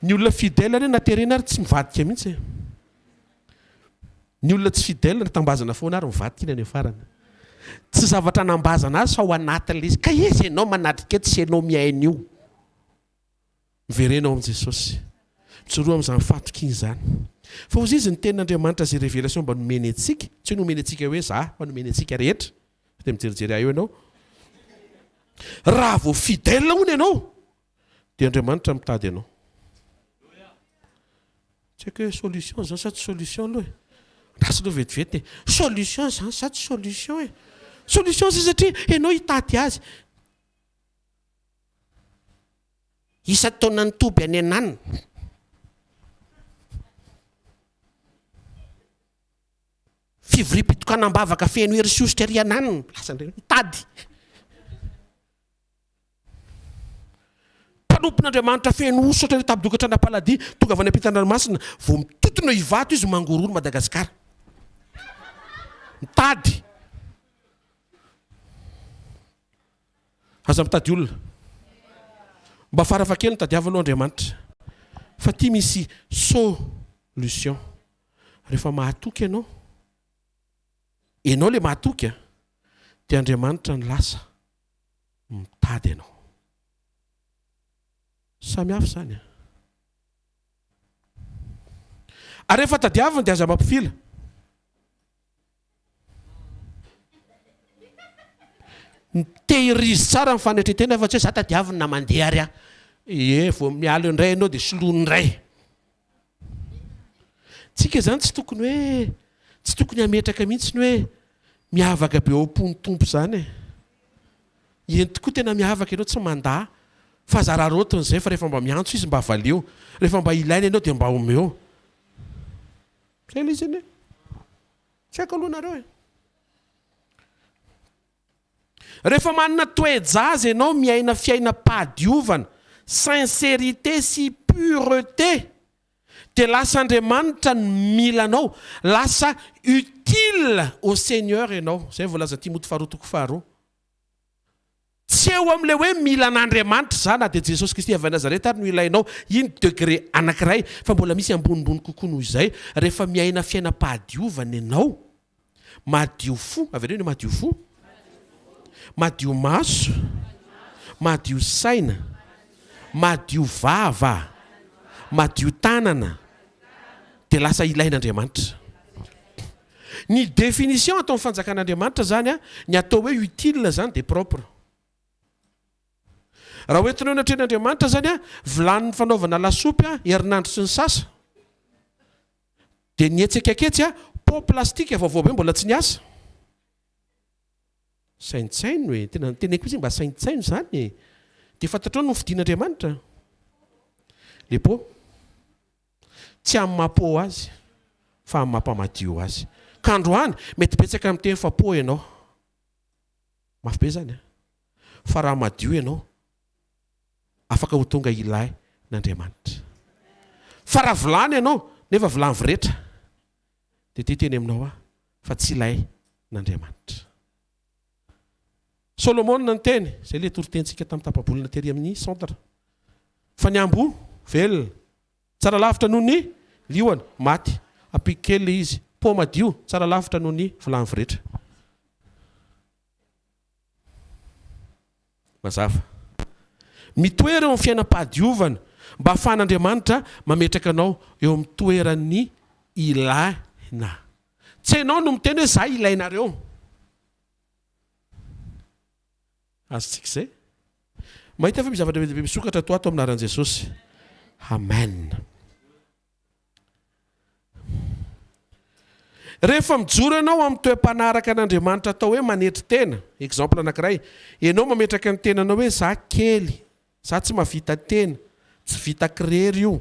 Ny olona fidèle re na terena ary tsy mivadika mihitsy e! Ny olona tsy fidèle na tambazana foana ary mivadika iny any farany. Tsy zavatra anambazana azy fa ao anatin'ilay izy. Ka iza ianao manatrika tsy ianao mihaino io? Miverena ao amin'i Jesosy. Mijoroa amin'izany fahatokiana izany. Fa hozy izy ny tenin'Andriamanitra izay révélation mba nomeny antsika, tsy hoe nomeny antsika hoe za, fa nomeny antsika rehetra. Sao dia mijerijery ahy eo ianao. Raha vao fidèle hono ianao, dia Andriamanitra mitady anao. Tsy haiko hoe solution izany sa tsy solution aloha e. Andraso aloha vetivety e. Solution izany sa tsy solution e. Solution izany satria ianao hitady azy. Isan-taonan'ny toby any Henan, fivoriam-pitokanam-bavaka feno hery sy hosotra ery Henan, hitady mpanompon'Andriamanitra feno hosotra ery Tabodoka Tranampaladi, tonga avy any ampitan-dranomasina, vao mitontona eo Ivato izy, mangorohoro Madagasikara, mitady. Aza mitady olona. Mba farafahakeliny tadiavo aloha Andriamanitra fa ty misy solution. Rehefa mahatoky ianao, ianao le mahatoky a, dia Andriamanitra no lasa mitady anao. Samy hafa izany a. Ary rehefa tadiaviny dia aza mampifila. Tehirizo tsara ny fanetren-tena fa tsy hoe za tadiaviny na mandeha ary aho. Ie, vao miala eo indray ianao dia soloiny indray. Tsika izany tsy tokony hoe, tsy tokony hametraka mihitsy ny hoe miavaka be ao am-pon'ny Tompo izany e. Eny tokoa tena miavaka ianao tsy mandà fa aza araraotiny izay fa rehefa mba miantso Izy mba valeo, rehefa mba ilaina ianao dia mba omeo. Kely izy anie. Tsy haiko aloha nareo e. Rehefa manana toe-jaza ianao miaina fiainam-pahadiovana, sincérité sy pureté, dia lasa Andriamanitra no mila anao, lasa utile au Seigneur ianao. Izay voalazan'i Timoty faharoa toko faharoa. Tsy eo amin'ilay hoe mila an'Andriamanitra za na dia Jesosy Kristy avy Nazareth ary no ilainao iny degré anankiray fa mbola misy ambonimbony kokoa noho izay rehefa miaina fiainam-pahadiovana ianao madio fo, avereno hoe madio fo, madio maso, madio saina, madio vava, madio tanana dia lasa ilain'Andriamanitra. Ny définition ataon'ny fanjakan'Andriamanitra izany, ny atao hoe utile izany dia propre. Raha hoentina eo anatrehan'Andriamanitra izany vilany fanaovana lasopy herinandro sy ny sasa, dia ny hetsika aketsy pot plastique vaovao be mbola tsy niasa. Saintsaino e! Tena ny teneniko fotsiny mba saintsaino izany e! Dia fantatrao ny nofidin'Andriamanitra? Le pot. Tsy amin'ny maha po azy fa amin'ny maha mpamadio azy. Ka androany, mety betsaka miteny fa po ianao. Mafy be izany an! Fa raha madio ianao, afaka ho tonga ilay n'Andriamanitra. Fa raha vilany ianao, nefa vilany viretra, dia ity teny aminao aho fa tsy ilay n'Andriamanitra. Solomona niteny, izay ilay toritenintsika tamin'ny tapa-bolana tery amin'ny centre, fa ny amboa velona, tsara lavitra noho ny liona maty. Ampiko kely ilay izy, pont madio, tsara lavitra noho ny vilany voretra. Mazava. Mitoera eo amin'ny fiainam-pahadiovana mba hahafahan'Andriamanitra mametraka anao eo amin'ny toeran'ny ilaina. Tsy ianao no miteny hoe za ilainareo. Azontsika izay? Mahita ve misy zavatra be dia be misokatra ato ho ato amin'ny anaran'i Jesosy? Amen. Rehefa mijoro ianao amin'ny toe-panahy araka an'Andriamanitra atao hoe manetry tena, exemple anankiray, ianao mametraka ny tenanao hoe za kely, za tsy mahavita tena, tsy vitako irery io,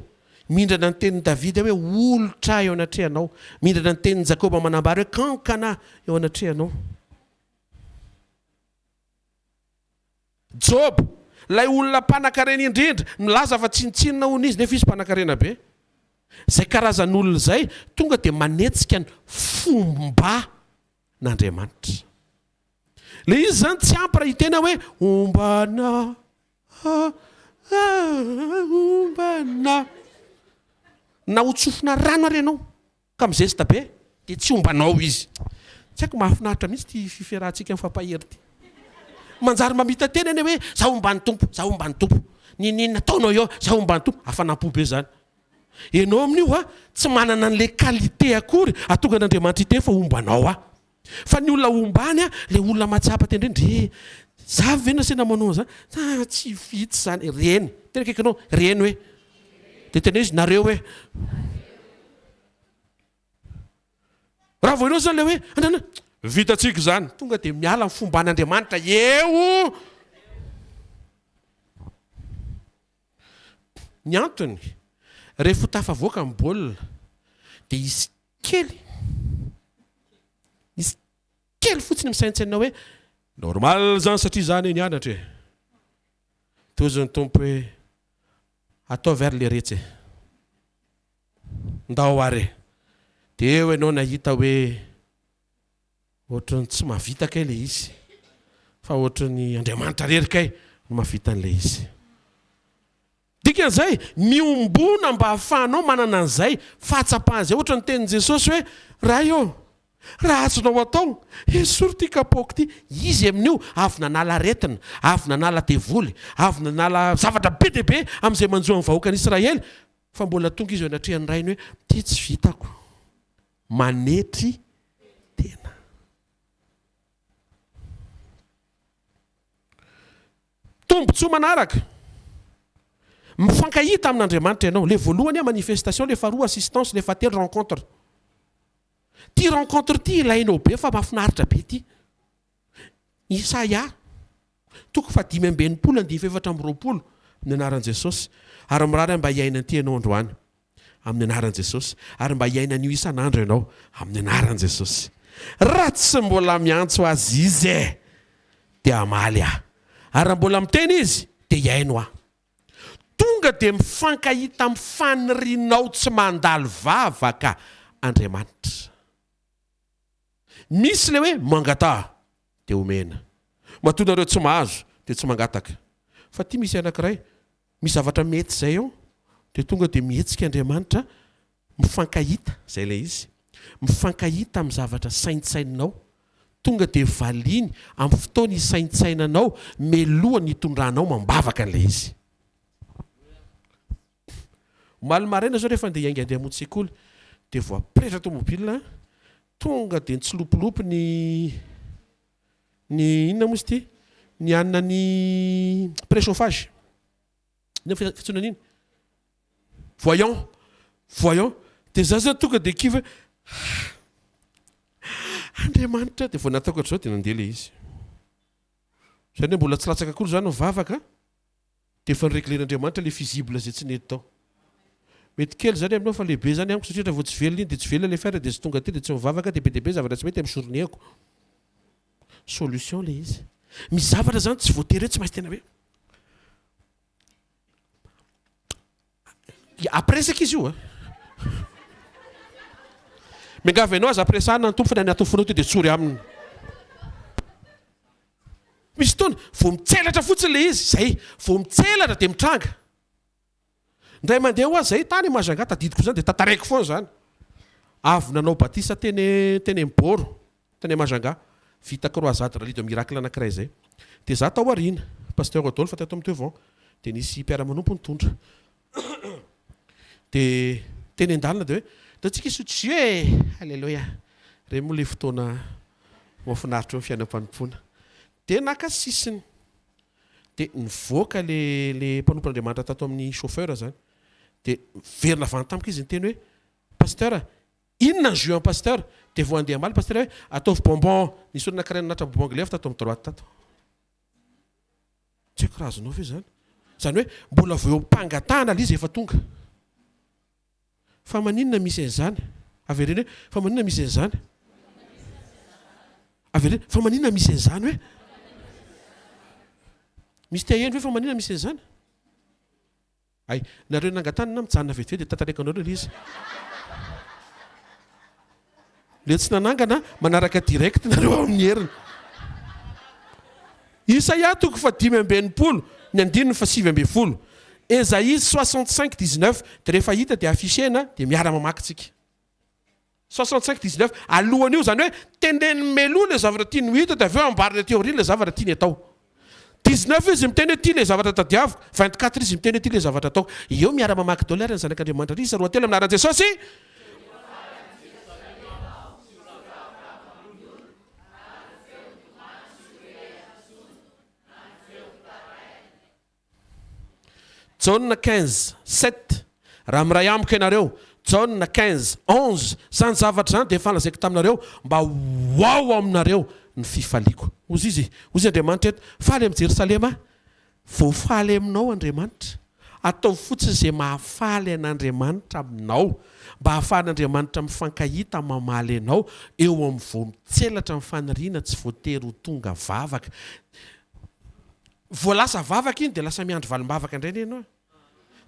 mindrana ny tenin'i Davida hoe olitra eo anatrehanao, mindrana ny tenin'i Jakoba manambara hoe kankana eo anatrehanao. Joba, ilay olona mpanankarena indrindra, milaza fa tsinontsinona hono izy, nefa izy mpanankarena be. Izay karazan'olona izay tonga dia manetsika ny fomban'Andriamanitra. Ilay izy izany tsy ampy raha hiteny aho hoe, Homba anah, homba anah. Na hotsofina rano ary ianao. Ka mizesta be dia tsy homba anao izy. Tsy haiko, mahafinaritra mihitsy ity fiferahantsika mifampahery ity. Manjary mamita-teny anie hoe, za homba ny Tompo, za homba ny Tompo. N'inon'inona ataonao eo, za homba ny Tompo. Hafanam-po be izany. Ianao amin'io, tsy manana an'ilay qualité akory hahatonga an'Andriamanitra hiteny fa homba anao aho. Fa ny olona ombany a, le olona mahatsapa tena reny, re, za ve nasina manao an'zany? Ha, tsy vitsy zany, reny, tena akaiky anao, reny hoe, de teneno izy, nareo hoe, raha vao enao zany le hoe, ananana, vitantsika zany, tonga de miala ny fomban'Andriamanitra eo, ny antony, ref ho tafavoaka ny baolina, de hisy Kely. Izy kely fotsiny misaintsaina hoe normal zany satria za anie nianatra e. Tohizin'ny Tompo hoe, ataovy ary le retsy e. Ndao ary e. Dia eo ianao nahita hoe ohatran'ny tsy mahavita kay le izy fa ohatran'ny Andriamanitra rery kay no mahavita an'ilay izy. Dikan'izay, miombona mba hahafahanao manana an'izay fahatsapana izay, ohatra ny tenin'i Jesosy hoe, Ray ô, raha azonao atao, esory ity kapaoko ity. Izy amin'io avy nanala aretina, avy nanala devoly, avy nanala zavatra be dia be amin'izay manjo an'ny vahoakan'Israely, fa mbola tonga izy eo anatrehan'ny Rainy hoe, Ity tsy vitako. Manetry tena. Tombotsoa manaraka, Mifankahita amin' Andriamanitra ianao. Ilay voalohany hoe manifestation, ilay faharoa assistance, ilay fahatelo rencontre. Ity rencontre ity ilainao be fa mahafinaritra be ity. Isaia toko fahadimy amby enimpolo andininy fahefatra amby roapolo, Amin'ny anaran'i Jesosy, ary mirary aho mba hiaina an'ity ianao androany. Amin'ny anaran'i Jesosy. Ary mba hiaina an'io isan'andro ianao. Amin'ny anaran'i Jesosy. Raha tsy mbola miantso Azy izy e! dia hamaly aho. Ary raha mbola miteny izy, dia hihaino aho. Tonga dia mifankahita amin'ny fanirianao tsy mandalo vavaka Andriamanitra. Misy ilay hoe, mangataha. dia omena. Matoa nareo tsy mahazo dia tsy mangataka. Fa ity misy anankiray misy zavatra mety izay ao dia tonga dia mihetsika Andriamanitra mifankahita, izay ilay izy, mifankahita amin'ny zavatra saintsaininao, tonga dia valiany amin'ny fotoana hisaintsainanao melohan'ny hitondranao mambavaka an'ilay izy. Pff! Omaly maraina zao rehefa andeha hiainga andeha hamonjy sekoly dia voapretra tomobilina, tonga dia nitsilopilopy ny ny inona moa izy ity? ny hanina ny prechauffage, inona moa fiantsoana an'iny? voyant, voyant, dia za zao tonga dia kivy hoe ha! Andriamanitra, dia vao nataoko hatrizao dia nandeha ilay izy. Izany hoe mbola tsy latsaka akory izany ny vavaka. Dia efa reglen'Andriamanitra ilay fusible izay tsy nety tao. Mety kely izany aminao fa lehibe izany amiko satria raha vao tsy velona iny dia tsy velona ilay fiara dia tsy tonga aty dia tsy mivavaka dia be dia be zavatra tsy mety amin'ny journée-ko. Solution ilay izy. Misy zavatra izany tsy voatery hoe tsy maintsy tena hoe Ampiresaka izy io a! Miangavy anao aza ampiresahana ny Tompo fa ny an'ny atofonao ity dia tsory Aminy. Misy fotoana vao mitselatra fotsiny ilay izy, izay, vao mitselatra dia mitranga. Indray mandeha hoa izay, tany Majunga, tadidiko izany dia tantareko foana izany. Avy nanao batisa teny teny amin'ny Bôro. Tany Majunga, vita croisade rallye de miracle anankiray izay. Dia izaho tao aoriana, Pasteur Rodolphe teto amin'ny Teuvo, dia nisy mpiara-manompo nitondra. Dia teny an-dalana dia hoe, Ataontsika hisotro jus e! Aleloia! Ireny moa ilay fotoana mahafinaritra eo amin'ny fiainam-panompoana. Dia naka sisiny. Dia nivoaka ilay, ilay mpanompon'Andriamanitra tato amin'ny chauffeur izany. Dia niverina avy any tamiko izy niteny hoe, Pasteur, Inona ny jus an Pasteur? Dia voandeha ambala Pasteur hoe ataovy bonbon, nisy olona karaina naratra bonbon glaive tato amin'ny droite tato. Tsy haiko raha azonao ve izany? Izany hoe mbola vao eo am-pangatahana ilay izy efa tonga. Fa maninona misy an'izany? Avereno hoe fa maninona misy an'izany? Avereno, fa maninona misy an'izany hoe? Misy te haheno ve fa maninona misy an'izany? Hay, nareo nangatana na mijanona vetivety dia tantareko anareo ilay izy. Ilay tsy nanangana manaraka direct nareo ao amin'ny heriny. Isaia toko fahadimy amby enimpolo ny andininy fahasivy ambin'ny folo. Esaïe 65 19 dia rehefa hita dia afficher-na dia miara mamaky tsika. Soixante cinq dix neuf, alohan' io, izany hoe teneniny mialoha ilay zavatra tiany ho hita dia avy eo ambarany aty aoriana ilay zavatra tiany atao. Dix neuf izy miteny hoe ity ilay zavatra tadiaviko, vingt quatre izy miteny hoe ity ilay zavatra ataoko. Eo miara mamaky daholo ary ny Zanak' Andriamanitra ary isa roa telo amin' ny anaran' Jesosy. Jaona quinze, sept, Raha miray amiko ianareo, Jaona quinze, onze, Izany zavatra izany dia efa lazaiko taminareo, mba ho ao aminareo ny fifaliako. Hozy izy, hozy Andriamanitra eto, Faly amin'i Jerosalema aho. Voafaly aminao Andriamanitra. Ataovy fotsiny izay mahafaly an'Andriamanitra aminao, mba hahafahan'Andriamanitra mifankahita mamaly anao eo amin'ny voa mitselatra ny faniriana tsy voatery ho tonga vavaka. Vao lasa vavaka iny dia lasa miandry valimbavaka indray anie ianao.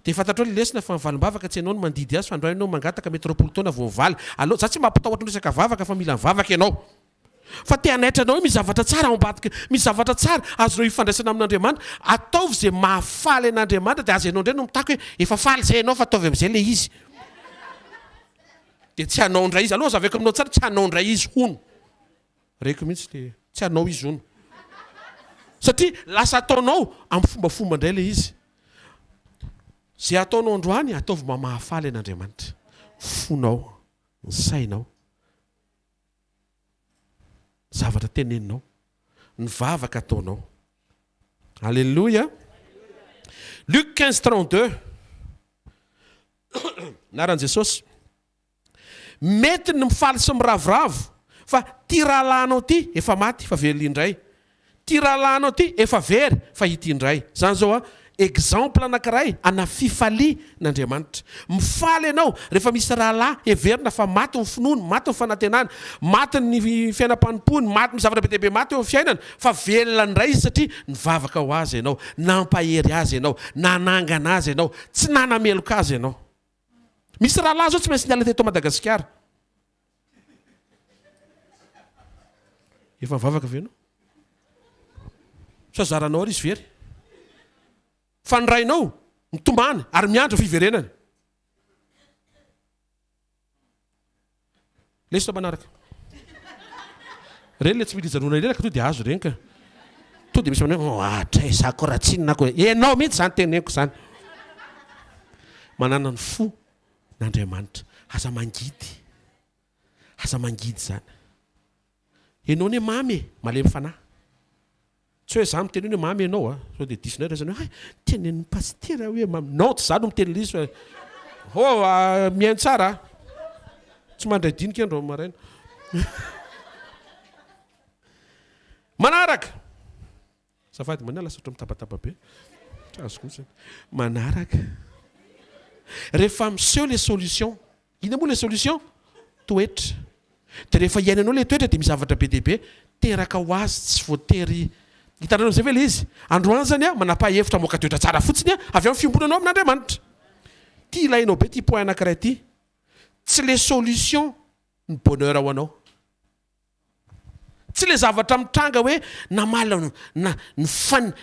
Dia fantatrao ilay lesona fa ny valimbavaka tsy ianao no mandidy azy fa andao ianao mangataka mety roapolo taona vao mivaly. Aleo, za tsy mampitahotra ny resaka vavaka fa mila mivavaka ianao fa te hanaitra anao hoe misy zavatra tsara ao ambadika, misy zavatra tsara azonao ifandraisana amin'Andriamanitra. Ataovy izay mahafaly an'Andriamanitra dia aza ianao indray no mitaky hoe efa faly izay ianao fa ataovy amin'izay ilay izy. Dia tsy hanao indray izy. Aleo azavaiko aminao tsara, tsy hanao indray izy hono. Reko mihitsy le tsy anao izy hono. Satria lasa ataonao amin'ny fombafomba indray ilay izy. Izay ataonao androany ataovy mba mahafaly an'Andriamanitra ny fonao, ny sainao, ny zavatra teneninao, ny vavaka ataonao. Aleloia. Luc 15 32 Anaran'i Jesosy. Mety ny mifaly sy miravoravo fa ty rahalahinao ty efa maty fa velona indray, ty rahalahinao ty efa very fa ity indray zany zao an exemple anakiray ana fifalia n'Andriamanitra. Mifaly ianao rehefa misy rahalahy heverina fa maty ny finoany, maty ny fanantenany, maty ny fiainam-panompoany, maty ny zavatra be dia be maty eo amin'ny fiainany fa velona indray izy satria nivavaka ho azy ianao, nampahery azy ianao, nanangana azy ianao, tsy nanameloka azy ianao. Misy rahalahy zao tsy maintsy niala teto Madagasikara. Efa nivavaka ve anao? Sa zaranao ary izy very? Fa ny rainao mitomany ary miandry fiverenany. Lesona manaraka. Ireny ilay tsy mila ijanonana ireny ka tonga dia azo ireny ka. Tonga dia misy manao hoe ohatra e, za koa raha tsinona aho koa. Ianao mihitsy izany teneniko izany. Manana ny fo n'Andriamanitra. Aza mangidy. Aza mangidy izany. Enao anie mamy e! Malemy fanahy. Tsy hoe za miteny hoe ny mamy enao a! Sao dia diso indray raisina hoe hay! Tenenin'ny pasitera hoe mamy. Non, tsy za no miteny lisy fa ho mihaino tsara a! Tsy mandray dinika andro maraina. Manaraka, Azafady mania lasa ohatry mitabataba be. Tsy azoko mihitsy anie. Manaraka. Rehefa miseho ilay solution. Inona moa ilay solution? Toetra. Dia rehefa iainanao ilay toetra dia misy zavatra be dia be teraka ho azy tsy voatery Hitanareo amin'izay ve ilay izy? Androany izany aho manapaha hevitra hamoaka toetra tsara fotsiny aho avy amin'ny fiombonanao amin'Andriamanitra. Ity ilainao be ity point anankiray ity. Tsy ilay solution ny bonheur ho anao. Tsy ilay zavatra mitranga hoe namaly aho, na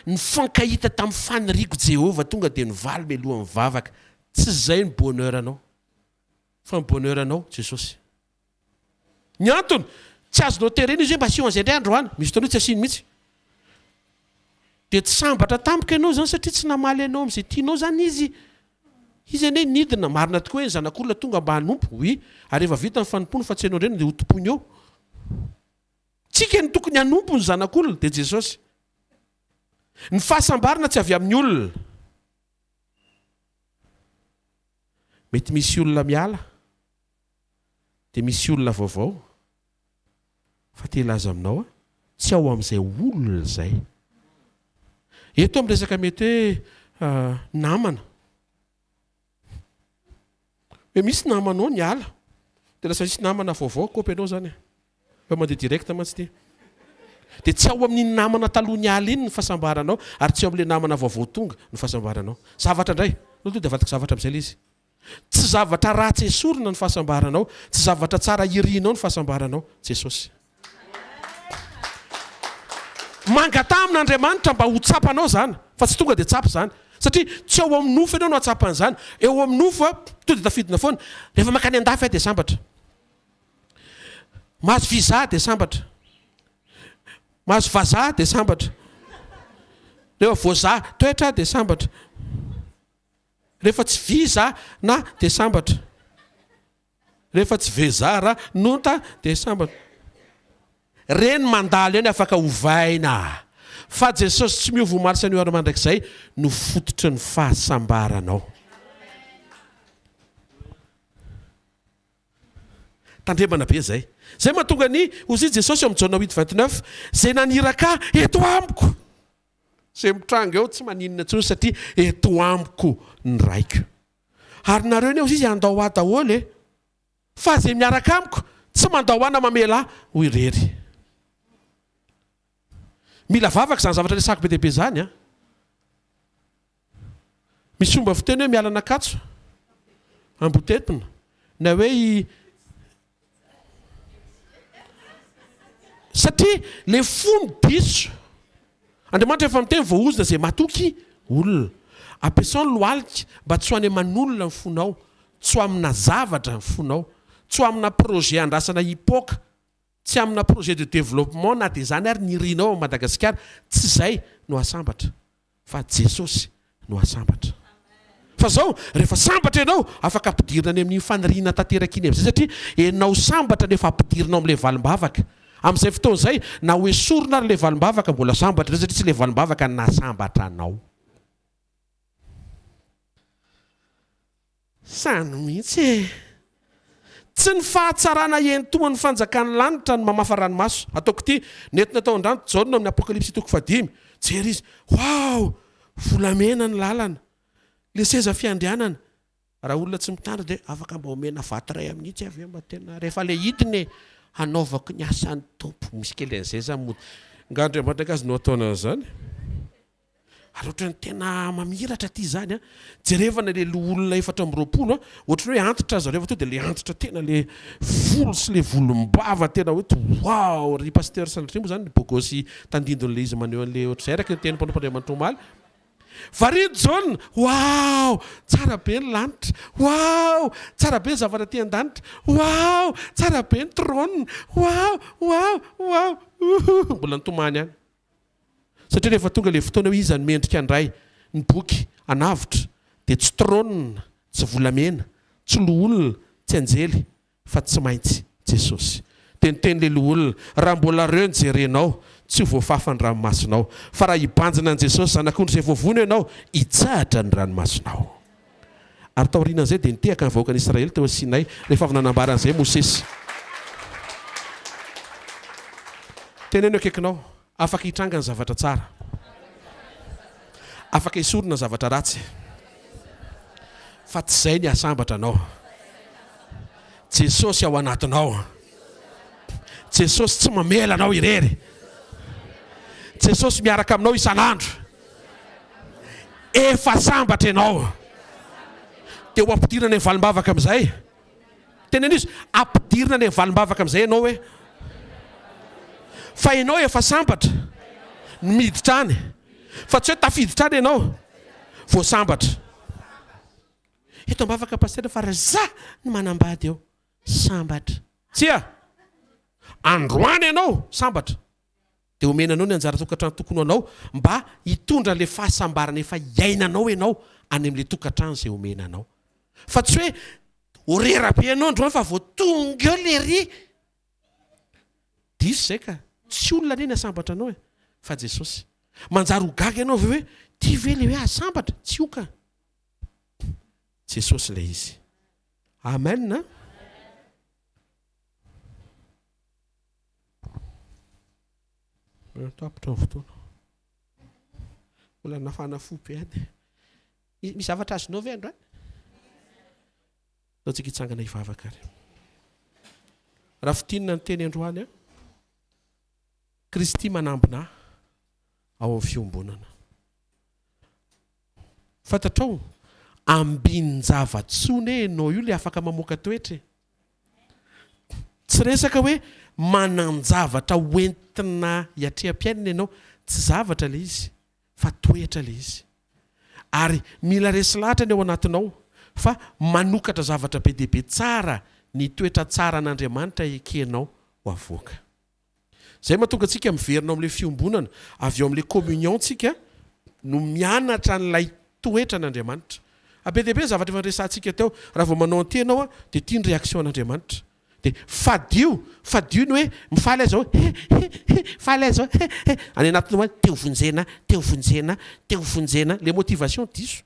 nifankahita tamin'ny faniriako Jehovah tonga dia nivaly mialoha ny vavaka. Tsy izay ny bonheur-nao. Fa ny bonheur-nao, Jesosy. Ny antony, tsy azonao terena izy hoe mba asio an'izay indray androany. Misy fotoana hoe tsy asiany mihitsy. Dia tsy sambatra tamiko ianao izany satria tsy namaly anao amin'izay tianao izany izy. Izy anie nidina, marina tokoa hoe ny zanak'olona tonga mba hanompo, oui, ary rehefa vita ny fanompoany fa tsy hainao indray no dia hotompoiny eo. Tsika no tokony hanompo ny zanak'olona, dia Jesosy. Ny fahasambarana tsy avy amin'ny olona. Mety misy olona miala. Dia misy olona vaovao fa te hilaza aminao aho, tsy ao amin'izay olona izay. Eto amin'ny resaka mety hoe namana. Hoe misy namanao niala, dia lasa misy namana vaovao akopy anao izany e. Fa mandeha direct mantsy ity. Dia tsy ao amin'iny namana taloha niala iny ny fahasambaranao ary tsy ao amin'ilay namana vaovao tonga ny fahasambaranao. Zavatra indray. Anao tonga dia avadika zavatra amin'izay ilay izy. Tsy zavatra ratsy esorina ny fahasambaranao, tsy zavatra tsara irianao ny fahasambaranao, Jesosy. Mangataha amin'Andriamanitra mba ho tsapanao izany, fa tsy tonga dia tsapa izany, satria tsy ao amin'ny nofo ianao no hahatsapany izany, eo amin'ny nofo a, tonga dia tafidina foana, rehefa mankany an-dafy aho dia sambatra, mahazo visa aho dia sambatra, mahazo vazaha aho dia sambatra, rehefa voazaha toetra aho dia sambatra. Rehefa tsy visa na dia sambatra. Rehefa tsy veza ra nonta dia sambatra. Reny mandalo eny afaka ovaina fa Jesosy tsy miova omaly sy anio ary mandrakizay no fototry ny fahasambaranao. Tandremana be zay. Zay mahatonga ny ozy Jesosy eo am Jaona huit vingt neuf, zay naniraka eto amiko. Izay mitranga eo tsy maninona intsony satria eto amiko ny raiko. Ary nareo anie hozy izy handao ahy daholo e! Fa izay miaraka amiko tsy mandao ahy na mamela ahy ho irery. Mila vavaka izany zavatra resahako be dia be izany an! Misy fomba fiteny hoe miala an'Ankatso ambotetina na hoe i satria le fony diso Andriamanitra efa miteny voahozona izay matoky olona ampiasao ny lohalika mba tsy ho any aman'olona ny fonao tsy ho amina zavatra ny fonao tsy ho amina projet andrasana hipoka Tsy amina projet de développement na dia izany ary ny irinao ao Madagasikara, tsy izay no asambatra fa Jesosy no asambatra. Fa izao, rehefa sambatra ianao, afaka ampidirina any amin'iny faniriana tanteraka iny amin'izay satria ianao sambatra no efa ampidirina ao amin'ilay valim-bavaka. Amin'izay fotoana izay, na ho esorina ary ilay valim-bavaka, mbola sambatra ianao satria tsy ilay valim-bavaka no nahasambatra anao. Samy mihitsy e! Tsy ny fahatsarana hientohan'ny fanjakan'ny lanitra no mamafa ranomaso. Ataoko ity, nentina tao an-drano i Jaona amin'ny Apokalypsy toko fahadimy. Jery izy, Waouh! Volamena ny lalana. Ilay seza fiandrianana. Raha olona tsy mitandrina dia afaka mba omena vato iray amin' itsy avy eo mba tena rehefa ilay hidiny e! Hanaovako ny asan'ny Tompo. Misy kely an'izay za mody. Nga Andriamanitra Gasy no ataonao an'izany? Ary ohatran'ny tena mamiratra aty izany an! Jerevana ilay loholona efatra amby roapolo an! Ohatran'ny hoe antitra zareo avy teo dia ilay antitra tena ilay volo sy ilay volombava tena hoe wow! Ry Pasteur sanatria moa izany bogosy tandindony ilay izy maneho an'ilay ohatr'izay araka ny tenin'ny mpanompan'Andriamanitra omaly. Varian'i Jaona, wow! Tsara be ny lanitra, wow! Tsara be ny zavatra aty an-danitra, wow! Tsara be ny trône, wow! Wow! Wow! Ouhouh! Mbola nitomany ihany. Satria rehefa tonga ilay fotoana hoe iza no mendrika handray ny boky anavotra dia tsy trône, tsy volamena, tsy loholona, tsy anjely fa tsy maintsy Jesosy. Dia niteny ilay loholona, raha mbola reo ny jerenao, tsy ho voafafa ny ranomasinao, fa raha hibanjina an'i Jesosy Zanak'ondry izay voavono ianao, hitsahatra ny ranomasinao. Ary taorian'izay dia nitehaka ny vahoakan'i Israely teo Sinay, rehefa avy nanambara an'izay Mosesy. Teneno eo akaikinao, Afaka hitranga ny zavatra tsara. Afaka esorina ny zavatra ratsy. Fa tsy izay ny hahasambatra anao. Jesosy ao anatinao. Jesosy tsy mamela anao irery. Jesosy miaraka aminao isan'andro. Efa sambatra ianao. Dia ho ampidirina any amin'ny valim-bavaka amin'izay. Teneno izy, ampidirina any amin'ny valim-bavaka amin'izay ianao hoe, fa ianao efa sambatra no miditra any, fa tsy hoe tafiditra any ianao vao sambatra. Eto am-bavaka Pasitera fa ry za no manambady eo, sambatra. Tsia! Androany ianao sambatra. Dia omena anao ny anjara tokantrano tokony ho anao mba hitondra ilay fahasambarana efa iainanao ianao any amin'ilay tokantrano izay omena anao. Fa tsy hoe horera be ianao androany fa vao tonga eo lery. Diso izay ka. Tsy olona anie ny hasambatra anao e, fa Jesosy. Manjary ho gaga ianao avy eo hoe, ity ve ilay hoe hasambatra? Tsy io ka. Jesosy ilay izy. Amen a. Tapitra ny fotoana. Mbola nafana fo be any. Misy zavatra azonao ve androany? Zao tsika hitsangana hivavaka ary. Raha fitinina ny teny androany a. Kristy manambina ao amin'ny fiombonana. Fantatrao, ambin-javatsoa ne enao io le afaka mamoaka toetra e. Tsy resaka hoe manan-javatra ho entina hiatreham-piainana ianao. Tsy zavatra ilay izy fa toetra ilay izy. Ary mila resy lahatra ny ao anatinao fa manokatra zavatra be dia be tsara ny toetra tsaran'Andriamanitra ekenao ho avoaka. Izay mahatonga antsika miverina ao amin'ilay fiombonana, avy ao amin'ilay communion tsika no mianatra an'ilay toetra an'Andriamanitra. A Be dia be ny zavatra efa niresahantsika teo, raha vao manao an'ity ianao dia ity ny réaction an'Andriamanitra. Dia fadio, fadio ny hoe mifaly aza hoe he he he, faly aza hoe he he, any anatiny ao hoe te ho vonjena, te ho vonjena, te ho vonjena, ilay motivation diso.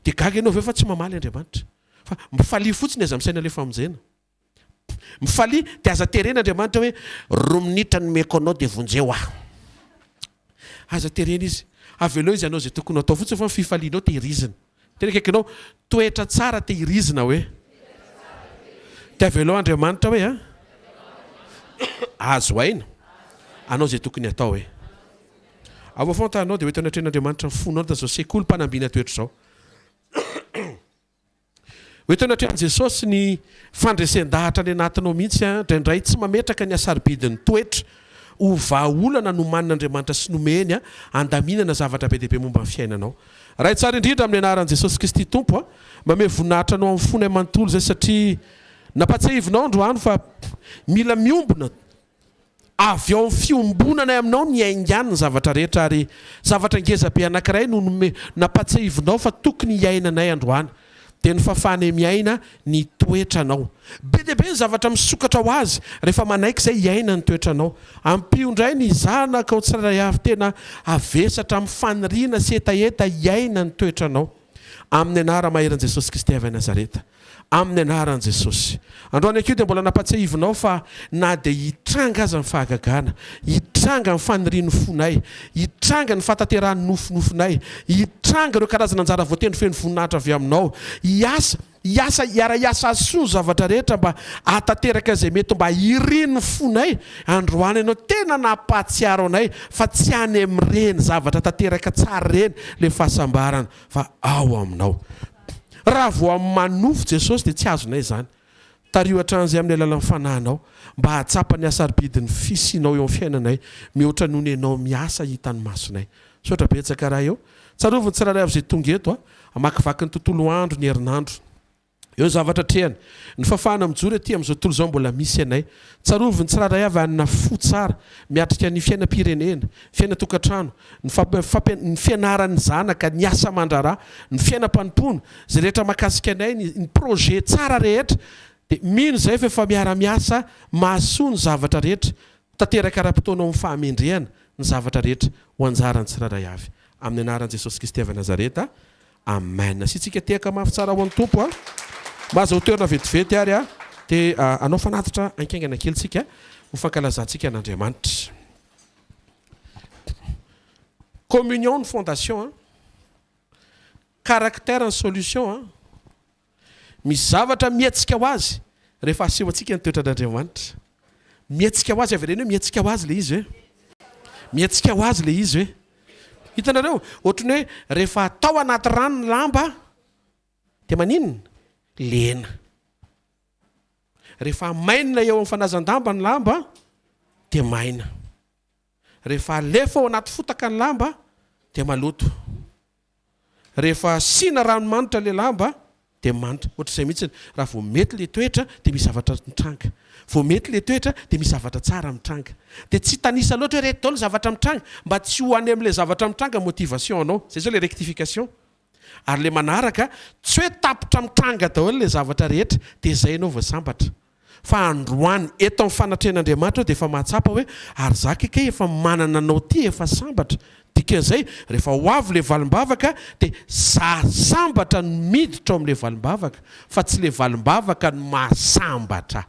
Dia gaga ianao avy eo fa tsy mamaly Andriamanitra. Fa mifalia fotsiny aza misaina ilay famonjena. Mifalia dia aza terena Andriamanitra hoe roa minitra nomeko anao dia vonjeo aho. Aza terena izy. Avelao izy hanao izay tokony ho atao fotsiny fa ny fifalianao tehirizina. Teny akaikinao, toetra tsara tehirizina hoe. Dia avelao Andriamanitra hoe a. Azo aina. Hanao izay tokony hatao hoe. Ao vao fantranao dia ho ento anatrehan'Andriamanitra ny fonao ny tamin'izao sekolim-panambina toetra izao. Ho eto anatrehan'i Jesosy ny fandresen-dahatra any anatinao mihitsy indraindray tsy mametraka ny hasarobidin'ny toetra ho vahaolana nomanin'Andriamanitra sy nomeny handaminana zavatra be dia be momba ny fiainanao. Ray tsara indrindra amin'ny anaran'i Jesosy Kristy Tompo a! Mamehy voninahitra anao amin'ny fonay manontolo izay satria nampatsiahivinao androany fa mila miombona Avy ao amin'ny fiombonanay aminao ny haingan'ny zavatra rehetra, ary zavatra ngeza be anankiray no nampatsiahivinao fa tokony hiainanay androany, dia ny fahafahanay miaina ny toetranao. Be dia be ny zavatra misokatra ho azy rehefa manaiky izay hiaina ny toetranao. Ampio indray ny zanakao tsirairay avy tena havesatra amin'ny faniriana sy hetaheta hiaina ny toetranao. Amin'ny Anara maheran'i Jesosy Kristy avy any Nazareta. Amin'ny Anaran'i Jesosy. Androany ankiho dia mbola nampatsiahivinao fa na dia hitranga aza ny fahagagana, hitranga ny fanirian'ny fonay, hitranga ny fahatanterahan'ny nofinofinay, hitranga ireo karazana anjara voatendry feno voninahitra avy Aminao, hiasa Hiasa hiara-hiasa azy soa ny zavatra rehetra mba hahatanteraka izay mety mba irin'ny fonay androany ianao tena nampahatsiaro anay fa tsy any amin'ireny zavatra tanteraka tsara ireny ilay fahasambarana fa ao aminao raha vao amin'ny manofy Jesosy dia tsy azonay izany tariho hatrany izay amin'ny alalan'ny fanahinao mba hahatsapa ny hasarobidin'ny fisianao eo amin'ny fiainanay mihoatra noho ny ianao miasa hitan'ny masonay Misaotra betsaka raha eo. Tsarovy ny tsirairay avy izay tonga eto a. Amakivaky ny tontolo andro ny herinandro. Eo ny zavatra atrehany. Ny fahafahana mijoro ety amin'izao tontolo izao mbola misy anay. Tsarovy ny tsirairay avy hanana fo tsara, miatrika ny fiainam-pirenena, ny fiainan-tokantrano, ny ny fianaran'ny zanaka, ny asa aman-draharaha, ny fiainam-panompoana, izay rehetra mahakasika anay, ny ny projet tsara rehetra. Dia mino izay fa efa miara-miasa mahasoa ny zavatra rehetra. Tanteraka ara-potoana ao amin'ny fahamendrehana ny zavatra rehetra ho anjaran'ny tsirairay avy. Amin'ny anaran'i Jesosy Kristy avy Nazareta, Amen. Asiantsika tehaka mafy tsara ho an'ny Tompo a! Mba aza ho toerana vetivety ary a! Dia hanao fanatitra hainkaingana kely tsika ho fankalazantsika an'Andriamanitra. Communion ny fondation a! Caractère ny solution a! Misy zavatra mihetsika ho azy rehefa asehontsika ny toetran'Andriamanitra. Mihetsika ho azy, avereno hoe mihetsika ho azy ilay izy hoe. Mihetsika ho azy ilay izy hoe. Hitanareo? Ohatry ny hoe rehefa atao anaty rano ny lamba dia maninona? Lena. Rehefa amainina eo amin'ny fanazan-damba ny lamba dia maina. Rehefa alefa ao anaty fotaka ny lamba dia maloto. Rehefa asiana rano manitra ilay lamba dia manitra. Ohatr'izay mihitsy, raha vao mety ilay toetra dia misy zavatra mitranga. Vao mety ilay toetra dia misy zavatra tsara mitranga. Dia tsy hitanisa loatra hoe ireto daholo ny zavatra mitranga mba tsy ho any amin'ilay zavatra mitranga motivation-nao. Izay izao ilay rectification. Ary le manaraka tsy hoe tapitra mitranga daholo le zavatra rehetra dia zay enao vao sambatra fa androany eto amin'ny fanatrehan'Andriamanitra eo dia efa mahatsapa hoe ary za ke kay efa manana anao ty efa sambatra dikan'izay rehefa ho avy le valimbavaka dia za sambatra no miditra ao amin'le valimbavaka fa tsy le valimbavaka no mahasambatra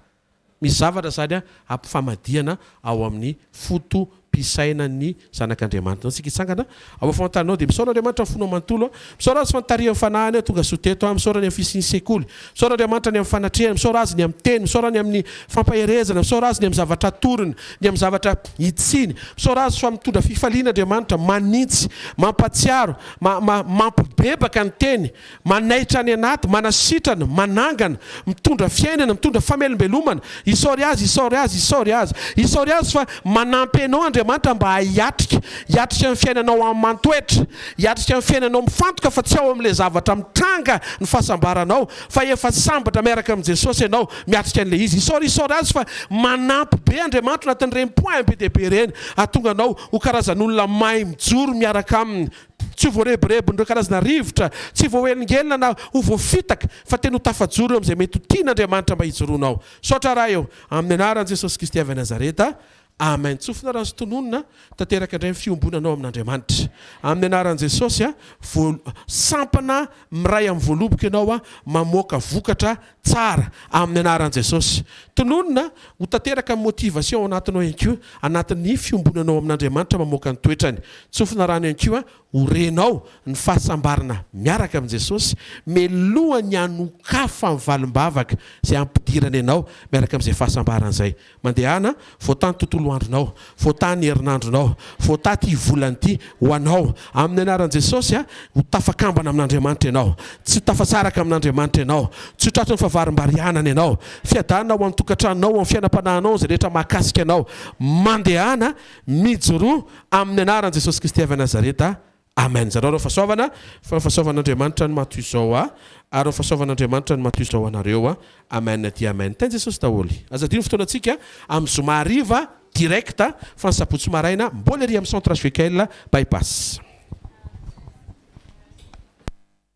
Misy zavatra izany ampifamadihana ao amin'ny foto-pisainan'ny zanak'Andriamanitra. Antsika hitsangana ao amin'ny famantarana ao dia misaora Andriamanitra ny fonao manontolo. Misaora Azy fa nitarihan'ny fanahiny aho tonga soa teto. Misaora ny amin'ny fisian'ny sekoly. Misaora Andriamanitra ny amin'ny fanatrehany. Misaora Azy ny amin'ny teny. Misaora ny amin'ny fampaherezana. Misaora Azy ny amin'ny zavatra atorony, ny amin'ny zavatra hitsiny. Misaora Azy fa mitondra fifaliana Andriamanitra, manintsy, mampatsiaro, ma-ma-mampibebaka ny teny. Manaitra any anaty, manasitrana, manangana, mitondra fiainana, mitondra famelombelomana, isaory Azy, isaory Azy, isaory Azy, isaory Azy fa manampy anao Andriamanitra mba hiatrika, hiatrika ny fiainanao aman-toetra, hiatrika ny fiainanao mifantoka fa tsy ao amin'ilay zavatra mitranga ny fahasambaranao fa efa sambatra miaraka amin'i Jesosy ianao miatrika an'ilay izy, isaory, isaory Azy fa manampy be Andriamanitra anatin'ireny points be dia be ireny hahatonga anao ho karazan'olona mahay mijoro miaraka Aminy. Tsy ho voarebirebin'ireo karazana rivotra tsy voahelingelina na ho voafitaka, fa tena ho tafajoro eo amin'izay mety ho tian'Andriamanitra mba hijoroanao. Misaotra Ray ô! Amin'ny anaran'i Jesosy Kristy avy any Nazareta, Amen. Tsofina raha azo tononina, tanteraka indray ny fiombonanao amin'Andriamanitra. Amin'ny anaran'i Jesosy, voa, sampana miray amin'ny voaloboka ianao, mamoaka vokatra Tsara, amin'ny anaran'i Jesosy. Tononina, ho tanteraka ny motivation ao anatinao ihany koa, anatin'ny fiombonanao amin'Andriamanitra mamoaka ny toetrany. Tsofina rano ihany koa, ho renao ny fahasambarana miaraka amin'i Jesosy, melohan'ny hanokafan'ny valim-bavaka izay hampidirany anao miaraka amin'izay fahasambarana izay. Mandehana, voataha ny tontolo andronao, voataha ny herinandronao, voataha ity volana ity ho anao, amin'ny anaran'i Jesosy a! Ho tafakambana amin'Andriamanitra ianao, tsy ho tafasaraka amin'Andriamanitra ianao, tsy ho tratry ny fahavarimbarianana ianao, fiadanana ao amin'ny tokantranonao, ao amin'ny fiainam-panahinao, izay rehetra mahakasika anao, mandehana, mijoroa, amin'ny anaran'i Jesosy Kristy avy Nazareta, Amen zarao reo fasoavana fa fasoavan'Andriamanitra ny mato izao a ary reo fasoavan'Andriamanitra ny mato izao anareo a amen dia amen tain Jesosy daholy aza adino ny fotoanantsika amin'ny zoma hariva direct fa ny sabotsy maraina mbola ery amin'ny centre HVKL by pass.